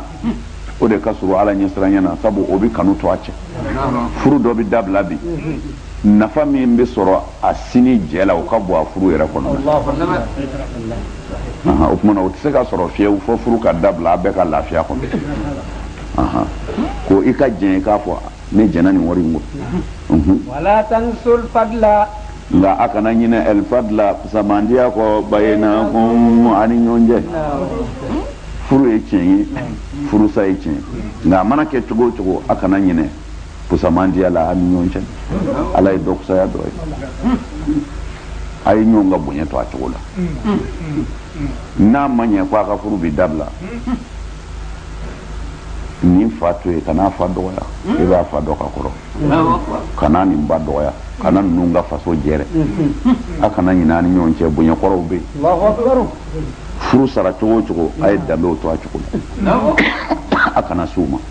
o de ka surun ala ɲɛsiranya na sabu o bɛ kanu to a cɛ furu dɔ bɛ dabila bi nafa min bɛ sɔrɔ a sinjiya la o ka bon a furu yɛrɛ kɔnɔ o tuma na o tɛ se ka sɔrɔ fiyewu fɔ furu ka dabila a bɛɛ ka lafiya kɔnɔ ko i ka jɛn k'a fɔ ne jɛnna nin wari kɔ nka a kana ɲinɛ alfadla fusamantiya kɔ baynakum a ni ɲɔgɔn cɛ furu ye tiɲɛ ye furusa ye tiɲɛ nka a mana kɛ cogo o cogo a kana ɲinɛ fusamantiya la a ni ɲɔgɔn cɛ ala ye dɔ fusaya dɔ ye a ye ɲɔgɔn ka bonya to a cogo la n'a ma ɲɛ ko a ka furu bɛ dabila nin fa to ye kana fa dɔgɔya i b'a fa dɔ ka kɔrɔ kana nin ba dɔgɔya kana ninnu ka faso jɛrɛ a kana ɲinɛ a ni ɲɔgɔn cɛ bonya kɔrɔw bɛ yen furu sara cogo o cogo a ye danbew to a cogo la a kana s'u ma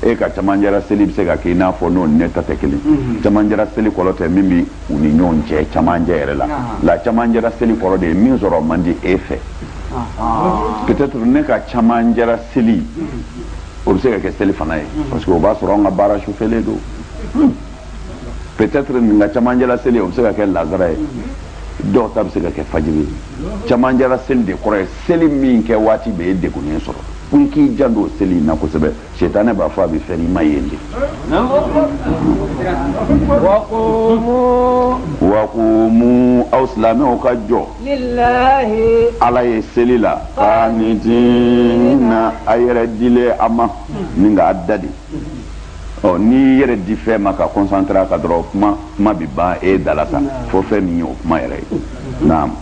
e ka camancɛra seli bɛ se ka kɛ i n'a fɔ n'o ne ta tɛ kelen camancɛra seli kɔrɔ tɛ min bɛ u ni ɲɔgɔn cɛ camancɛ yɛrɛ la la camancɛra seli kɔrɔ de ye min sɔrɔ man di e fɛ peut-être ne ka camancɛra seli o bɛ se ka kɛ selifana ye parce que o b'a sɔrɔ an ka baara sufɛlen don peut-être nin ka camancɛra seli o bɛ se ka kɛ laansara ye dɔw ta bɛ se ka kɛ fajiri ye camancɛra seli de kɔrɔ ye seli min kɛ waati bɛ e degunnen sɔrɔ ko i k'i janto seli in na kosɛbɛ sɛtanɛ b'a fɔ a bɛ fɛn i ma yen de wa qumu aw silamɛw ka jɔ ala ye seli la qanitina a yɛrɛ dilen a ma ni k'a da de ɔ n'i yɛrɛ di fɛn ma ka concentrer a kan dɔrɔn kuma kuma bɛ ban e da la sa fɔ fɛn min ye o kuma yɛrɛ ye naam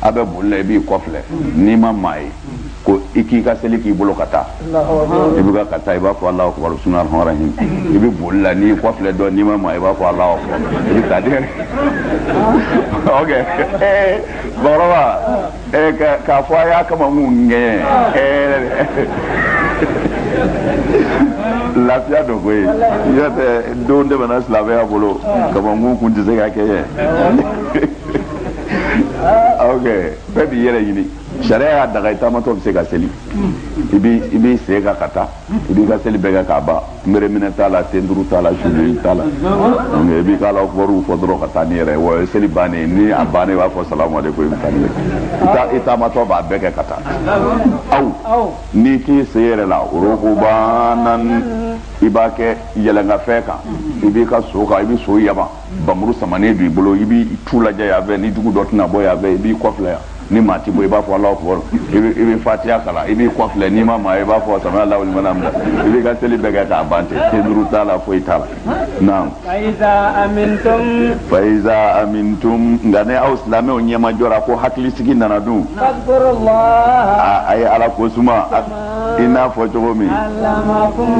a bɛ boli la i b'i kɔfilɛ n'i ma maa ye ko i k'i ka seli kɛ i bolo ka taa i bɛ ka taa i b'a fɔ alahu akibaru bisimilahi rahmani rahim i bɛ boli la n'i y'i kɔfilɛ dɔrɔn n'i ma maa ye i b'a fɔ ala i bɛ taa dɛ bamakɔkɔrɔba k'a fɔ a y'a kama mun gɛn lafiya dɔ ko ye y'a tɛ don tɛmɛna silamɛya bolo kamakun kun tɛ se ka kɛ ye ah, ok bɛɛ b'i yɛrɛ ɲini sariya y'a daga i taamatɔ bɛ se ka seli i b'i sen kan ka taa i b'i ka seli bɛɛ kɛ k'a ban kunbereminɛ t'a la tenduru t'a la sujudu t'a la donc i b'i ka alahu akibaru fɔ dɔrɔn ka taa n'i yɛrɛ ye wa o ye seli bannen ni a bannen i b'a fɔ salamu aleykum i bɛ taa n'i yɛrɛ i taamatɔ b'a bɛɛ kɛ ka taa aw n'i k'i sen yɛrɛ la aw rukubanan i b'a kɛ yɛlɛnkanfɛn kan i b'i ka so kan i bɛ so yaba npanmuru samanen b'i bolo i b'i tu lajɛ yan fɛ ni jugu dɔ tɛna bɔ yan fɛ i b'i kɔfilɛ yan ni maa ti bɔ i b'a fɔ alahu akibaru i bɛ i bɛ fatiya kalan i b'i kɔfilɛ n'i ma maa i b'a fɔ samiya lahu liman hamida i b'i ka seli bɛɛ kɛ k'a ban ten tenduru t'a la foyi t'a la naam. fayiza amintum. fayiza amintum nka ni aw silamɛw ɲɛmajɔra ko hakilisigi nana dun. a a ye ala ko suma. i n'a fɔ cogo min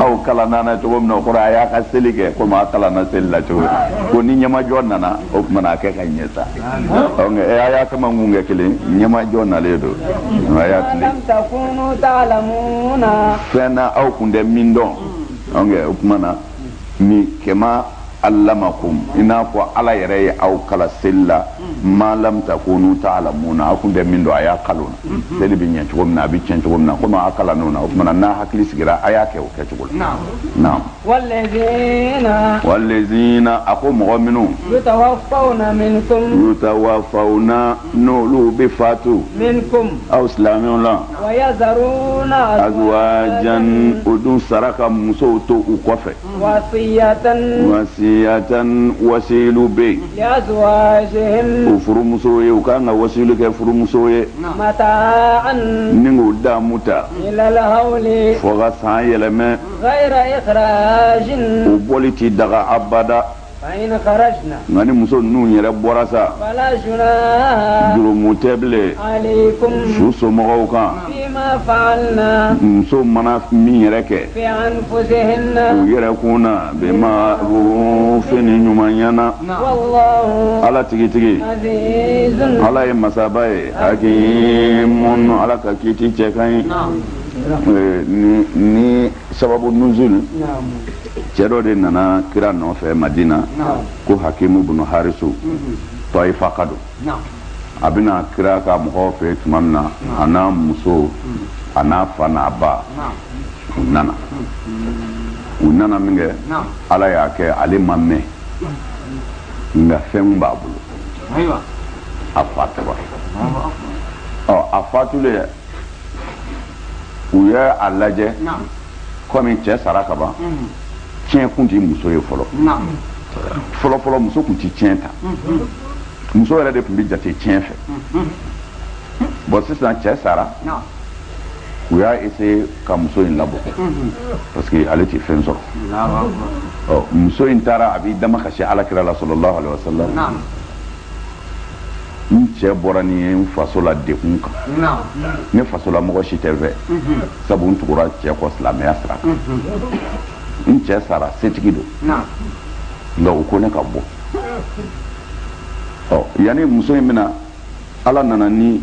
aw kalan nana cogo min na o kɔrɔ a y'aw ka seli kɛ komi aw kalanna seli la cogo min ko ni ɲɛmajɔ nana o tuma na a kɛ ka ɲɛ sa eh, a y'a kama kun kɛ kelen ɲɛmajɔ nalen don a y'aw kalan fɛn na aw kun tɛ min dɔn o tuma na ni kama alamakum i n'a fɔ ala yɛrɛ ye aw kalan seli la ma lam takunu taalamuna aw tun tɛ min dɔn a y'aw kalan o na seli bɛ ɲɛ cogo min na a bɛ tiɲɛ cogo min na komi aw kalann'o na o tuma n'aw hakili sigira a y'a kɛ o kɛcogo la naam walezina walezina a ko mɔgɔ minnu yutawafawna minkum yutawafawna n'olu bɛ fatu minkum aw silamɛw la wa yazaruna azwajan o dun sara ka musow to u kɔfɛ wasiyatan wasilu bɛ yen o furumuso ye u ka kan ka wasilu kɛ furumuso ye ni k'o damu ta fo ka san yɛlɛma u bɔli tɛ daga abada nka ni muso ninnu yɛrɛ bɔra sa jurumu tɛ bilen su somɔgɔw kan muso mana min yɛrɛ kɛ u yɛrɛ kun na bɛnma fɛn ni ɲumanya na ala tigitigi ala ye masaba ye hakimun ala ka kiti cɛ ka ɲi sababu nuzuli cɛ dɔ de nana kira nɔfɛ madina ko hakimu bunu harisu tayifaka don a bɛna kira ka mɔgɔw fɛ tuma min na a n'a muso a n'a fa n'a ba u nana u nana min kɛ ala y'a kɛ ale ma mɛɛn nka fɛn b'a bolo a fatura ɔ a fatulen u ye a lajɛ kɔmi cɛ sara ka ban tiɲɛ kun tɛ muso ye fɔlɔ fɔlɔfɔlɔ muso tun tɛ tiɲɛ ta muso yɛrɛ de tun bɛ jate tiɲɛ fɛ bon sisan cɛ sara u y'a essayer ka muso in labɔ parce que ale tɛ fɛn sɔrɔ muso in taara a b'i damakasi ala kira la salallahu aleyhi wasallam n cɛ bɔra ni n ye n faso la dekun kan ne faso la mɔgɔ si tɛ n fɛ sabu n tugura cɛ kɔ silamɛya sira kan n cɛ sara setigi don nka u ko ne ka bɔ yanni muso in bɛna ala nana ni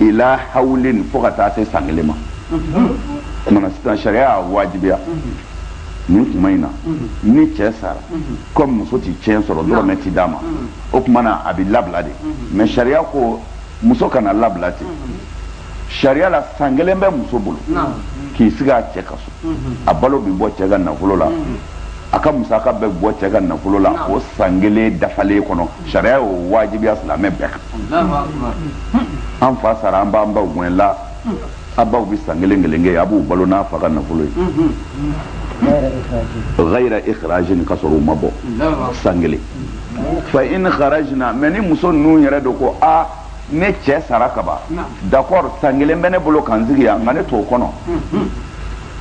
ila hawlin fo ka taa se san kelen ma o tuma na sisan sariya y'a wajibiya nin kuma in na ni cɛ sara comme muso tɛ tiɲɛ sɔrɔ dɔrɔmɛ tɛ d'a ma o tuma na a bɛ labila de mais sariya ko muso kana labila ten sariya la san kelen bɛ muso bolo k'i sigi a cɛ ka so a balo bɛ bɔ cɛ ka nafolo la a ka musaka bɛ bɔ cɛ ka nafolo la o san kelen dafalen kɔnɔ sariya y'o wajibiya silamɛ bɛɛ kan an fa sara an b'an baw gɛn la a baw bɛ san kelen kelen kɛ a b'u balo n'a fa ka nafolo ye ghayra ikhrajin ka sɔrɔ u ma bɔ san kelen fa in kharajna mais ni muso ninnu yɛrɛ dun ko a ne cɛ sara kaban d'accord san kelen bɛ ne bolo ka n sigi yan nka ne t'o kɔnɔ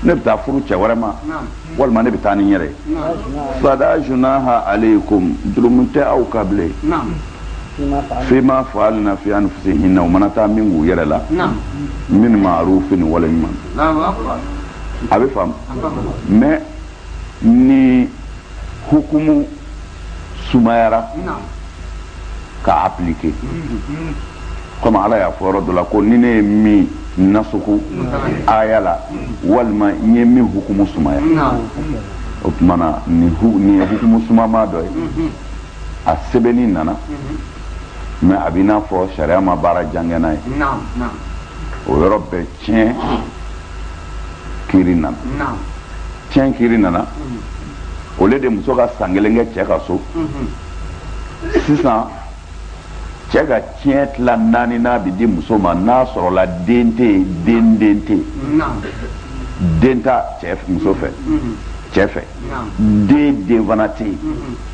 ne bɛ taa furu cɛ wɛrɛ ma walima ne bɛ taa ni n yɛrɛ ye fala junaha aleykum jurumu tɛ aw kan bilen fima faalna fi anfusihinna u mana taa min k'u yɛrɛ la min ma'rufin wale ɲuman a bɛ faamu mais ni hukumu sumayara ka appliquer comme ala y'a fɔ yɔrɔ dɔ la ko ni ne ye min nasuku aya la walima n ye min hukumu sumaya o tuma na nin ye hukumu sumama dɔ ye a sɛbɛnni nana mais a bɛ i n'a fɔ sariya ma baara jan kɛ n'a ye o yɔrɔ bɛɛ tiɲɛ kiri nana tiɲɛ kiri nana au lieu de muso ka san kelen kɛ cɛ ka so sisan cɛ ka tiɲɛ tila naaninan bɛ di muso ma n'a sɔrɔla den tɛ yen den den tɛ yen den t'a cɛ muso fɛ cɛ fɛ den den fana tɛ yen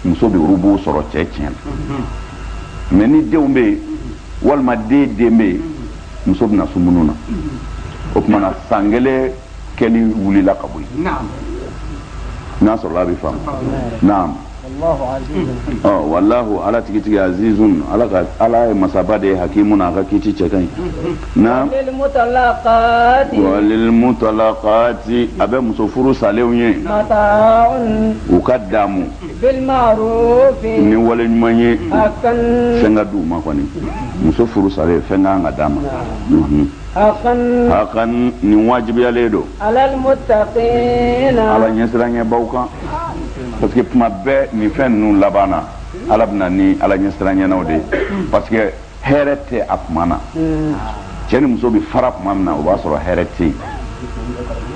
muso bɛ rubu'u sɔrɔ cɛ tiɲɛ na mais ni denw bɛ yen walima den den bɛ yen muso bɛ na sumunu na o tuma na san kelen kɛli wulila ka bɔ yen n'a sɔrɔla a bɛ faamu naam walahu ala tigitigi azizun ala ka ala ye masaba de ye hakimun a ka kiti cɛ ka ɲi naam walilmutalaqaati a bɛ muso furu salenw ye u ka daamu ni wale ɲuman ye fɛn ka d'u ma kɔni muso furu salen fɛn ka kan ka d'a ma hakan hakan nin wajibiyalen don alalmutaqina ala ɲɛsiranɲɛbaw kan parce que tuma bɛɛ nin fɛn ninnu laban na ala bɛ na ni ala ɲɛsiranɲɛnaw de ye parce que hɛrɛ tɛ a tuma na cɛ ni muso bɛ fara tuma min na o b'a sɔrɔ hɛrɛ tɛ yen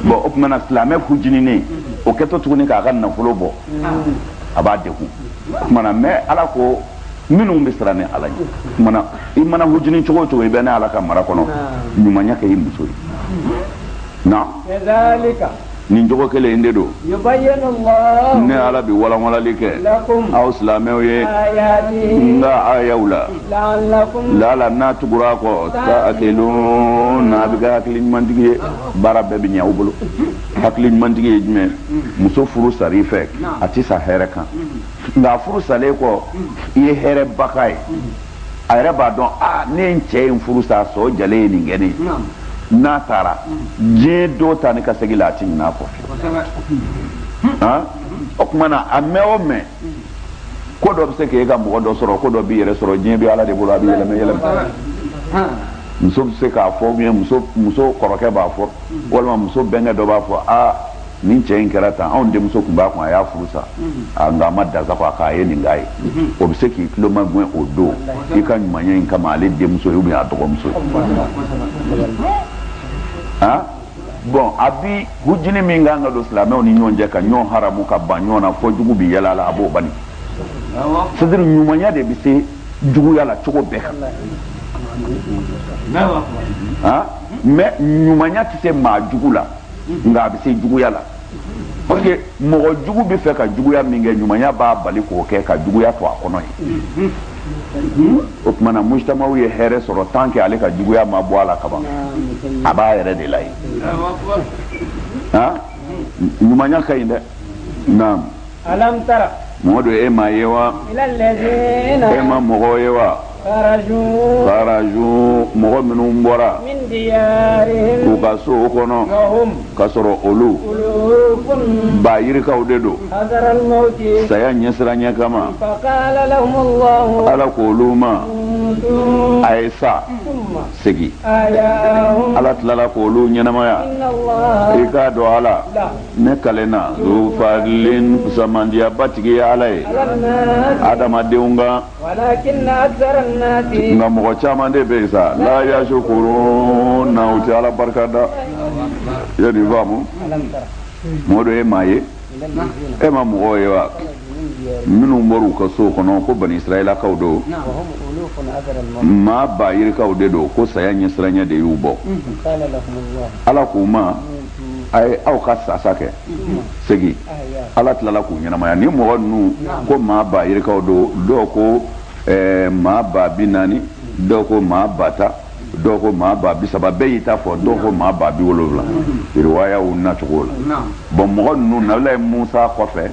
bɔn o tuma na silamɛ hujininen o kɛtɔ tuguni k'a ka nafolo bɔ a b'a degun o tuma na mais ala ko minnu bɛ siran ne ala ɲɛ mana i mana hujini cogo o cogo i bɛ ne ala ka mara kɔnɔ ɲumanya kɛ i muso ye na nin cogo kelen de don ne ala bɛ walanlanli kɛ aw silamɛw ye n ka ayaw la laala n'a tugura a kɔ taqiluna a bɛ kɛ hakili ɲumantigi ye baara bɛɛ bɛ ɲɛ aw bolo hakili ɲumantigi ye jumɛn muso furu sar'i fɛ a tɛ sa hɛrɛ kan nka furu salen kɔ i ye hɛrɛba k'a ye a yɛrɛ b'a dɔn a ne ye n cɛ in furu sa sɔ jalen ye nin kɛ ne n'a taara diɲɛ do taa ni ka segin la a ti ɲin'a kɔ o tuma na a mɛn o mɛn ko dɔ bɛ se k'e ka mɔgɔ dɔ sɔrɔ ko dɔ b'i yɛrɛ sɔrɔ diɲɛ bɛ ala de bolo a bɛ yɛlɛmɛ yɛlɛmɛ muso bɛ se k'a fɔ muso kɔrɔkɛ b'a fɔ walima muso bɛnkɛ dɔ b'a fɔ aa nin cɛ in kɛra tan anw denmuso tun b'a kun a y'a furu sa nka a ma dasa ko a k'a ye nin k'a ye o bɛ se k'i tulo magɛn o don i ka ɲumanya in kama ale denmuso ye ou bien a dɔgɔmuso ye bɔn a bi hujini min kan ka don silamɛw ni ɲɔgɔn cɛ ka ɲɔgɔn haramu ka ban ɲɔgɔn na fo jugu bi yɛlɛ a la a b'o bali c'est-à-dire ɲumanya de bɛ se juguya la cogo bɛɛ kan mais ɲumanya tɛ se maa jugu la nka a bɛ se juguya la parce que mɔgɔ jugu bɛ fɛ ka juguya min kɛ ɲumanya b'a bali k'o kɛ ka juguya to a kɔnɔ yen o tuma na mujtamaw ye hɛrɛ sɔrɔ tant que ale ka juguya ma bɔ a la kaban a b'a yɛrɛ de la yen ɲumanya ka ɲi dɛ naam alam tara mɔdu e ma ye wa e ma mɔgɔ ye wa karaju mɔgɔ minnu bɔra u ka sow kɔnɔ k'a sɔrɔ olu ba yirikaw de don saya ɲɛsiranya kama ala ko olu ma a ye sa segin ala tilala ko olu ɲɛnamaya i k'a dɔn ala ne kalenna zufalin fusamantiyaba tigi ye ala ye adamadenw kan nka mɔgɔ caman de bɛ yen sa la yasukuruna u tɛ ala barika da i ye nin faamu mɔdu e ma ye e ma mɔgɔw ye wa minnu bɔr'u ka sow kɔnɔ ko bani israɛlakaw don maa ba yirikaw de don ko saya ɲɛsiranya de y'u bɔ ala k'u ma a ye aw ka sasa kɛ segin ala tilala k'u ɲɛnamaya ni mɔgɔ ninnu ko maa ba yirikaw don dɔw ko eh, maa ba bi naani dɔw ko maa ba tan dɔw ko maa ba bi saba bɛɛ y'i ta fɔ dɔw ko maa ba bi wolonwula riwayaw nacogo la bɔn mɔgɔ ninnu nabilayi musa kɔfɛ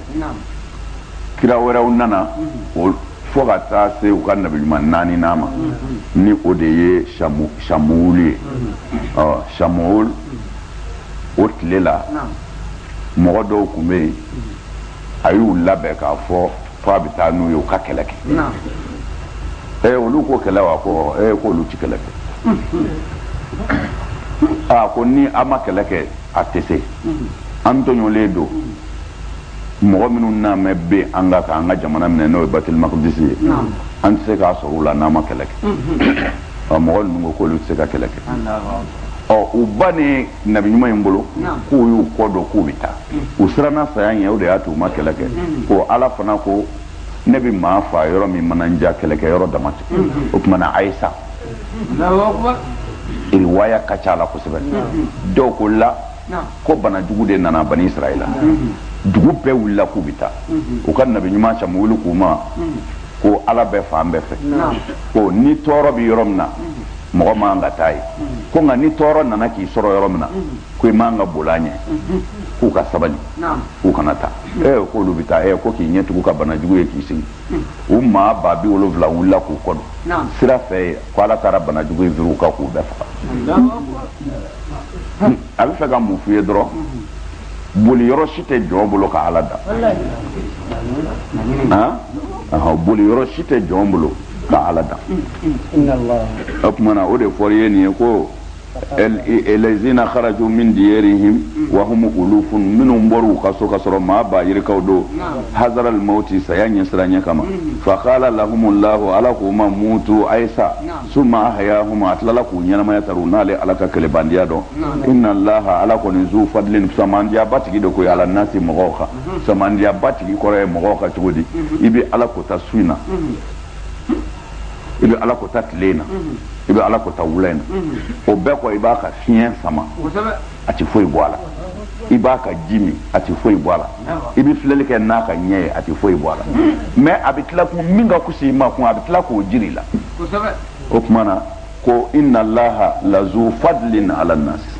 kira wɛrɛw nana mhm. fo ka taa se u ka nabiɲuman naaninan ma mhm. ni o de ye samuwulu ye samuwulu mhm. o tile la mɔgɔ dɔw tun bɛ yen a y'u labɛn k'a fɔ ko a bɛ taa n'u ye u ka kɛlɛ kɛ ee olu ko kɛlɛ wa ko ee ko olu ti kɛlɛ kɛ aa ko ni an ma kɛlɛ kɛ a tɛ se an tɔɲɔlen don mɔgɔ minnu nalen bɛ an kan k'an ka jamana minɛ n'o ye batilimakudisi ye an tɛ se k'a sɔrɔ u la n'an ma kɛlɛ kɛ mɔgɔ ninnu ko k'olu tɛ se ka kɛlɛ kɛ ɔ u bannen nabi ɲuman in bolo k'u y'u kɔ don k'u bɛ taa u siranna saya ɲɛ o de y'a to u ma kɛlɛ kɛ ko ala fana ko ne bɛ maa faa yɔrɔ min mana n diya kɛlɛkɛ yɔrɔ dama tɛ o tuma na a ye sa riwaya ka ca a la kosɛbɛ dɔw ko la ko bana jugu de nana bani israɛl la dugu bɛɛ wulila k'u bɛ taa u ka nabi ɲuman samuwulu k'u ma ko ala bɛ fan bɛɛ fɛ ko ni tɔɔrɔ bɛ yɔrɔ min na mɔgɔ man ka taa yen ko nka ni tɔɔrɔ nana k'i sɔrɔ yɔrɔ min na ko i man ka boli a ɲɛ k'u ka sabali k'u kana taa e k'olu bɛ taa e ko k'i ɲɛtugu ka banajugu ye k'i sigi u maa ba bi wolonwula wulila k'u kɔ don sira fɛ ko ala taara banajugu in firi u kan k'u bɛɛ faga a bɛ fɛ ka mun f'u ye dɔrɔn boli yɔrɔ si tɛ jɔn bolo ka ala dan han boli yɔrɔ si tɛ jɔn bolo ka ala dan o tuma na o de fɔra ye nin ye ko alazina kharaju min diyarihim wa hum ulufun minnu bɔr'u ka so ka sɔrɔ maa ba yirikaw don hazaral mauti saya ɲɛsiranya kama fa qala lahumullahu ala k'u ma mutu a yi sa suma ahayahum a tilala k'u ɲɛnamaya ta u n'ale ala ka kɛlɛbandenya dɔn ina laha ala kɔni zu fadlin samadenya ba tigi don ko ala nasi mɔgɔw kan samadenya ba tigi kɔrɔ ye mɔgɔw kan cogo di i bɛ ala kota su in na i bɛ ala kota tile in na i bɛ ala kota wula in na o bɛɛ kɔ i b'a ka fiɲɛ sama a tɛ foyi bɔ a la i b'a ka ji min a tɛ foyi bɔ a la i bɛ filɛli kɛ n'a ka ɲɛ ye a tɛ foyi bɔ a la mais a bɛ tila ko min ka fus'i ma ko a bɛ tila k'o jir'i la o tuma na ko ina laha lazu fadlin ala nasi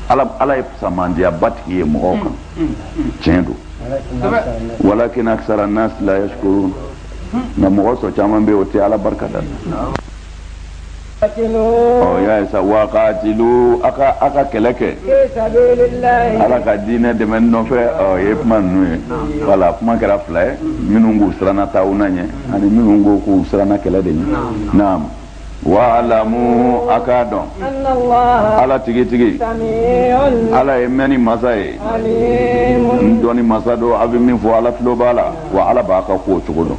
ala ye samandiya batigi ye mɔgɔw kan tiɲɛ don walakin akisara nasi la yasikurun nka mɔgɔ sɔrɔ caman bɛ o tɛ ala barika da ɔ y'a ye sa wa katilu a ka a ka kɛlɛ kɛ ala ka diinɛ dɛmɛ nɔfɛ ɔ ye kuma ninnu ye wala kuma kɛra fila ye minnu k'u siranna tawuna ɲɛ ani minnu ko k'u siranna kɛlɛ de ɲɛ naam wa'alamu a k'a dɔn ala tigitigi ala ye mɛnni masa ye n dɔnni masa don a bɛ min fɔ ala tulo b'a la wa ala b'a ka kow cogo dɔn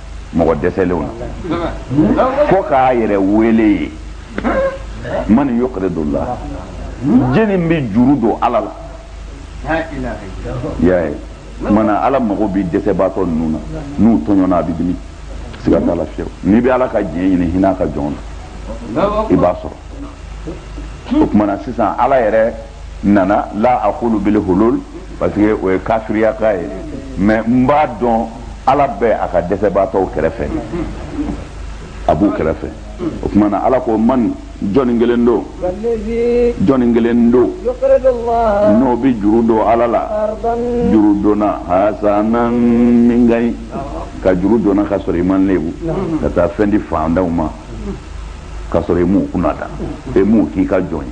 mɔgɔ dɛsɛlenw na fo k'a yɛrɛ wele ye mani yukuridu la jɔnni bɛ juru don ala la y'a ye mana ala mago bɛ dɛsɛbaatɔ ninnu na n'u tɔɲɔna a bɛ dimi siga t'a la fiyewu n'i bɛ ala ka jɛn ɲini hinɛ a ka jɔn na i b'a sɔrɔ o tumana sisan ala yɛrɛ ana la akulu bil hulul parce que o ye kafiriya kan ye mais n b'a dɔn ala bɛ a ka dɛsɛbaatɔw kɛrɛfɛ a b'u kɛrɛfɛ o tuma na ala ko man jɔnni kelen don jɔnni kelen don n'o bɛ juru don ala la juru donna hasanan min ka ɲi ka juru donna ka sɔrɔ i m'a lebu ka taa fɛn di fantanw ma ka sɔrɔ i m'u kunnada e m'u k'i ka jɔn ye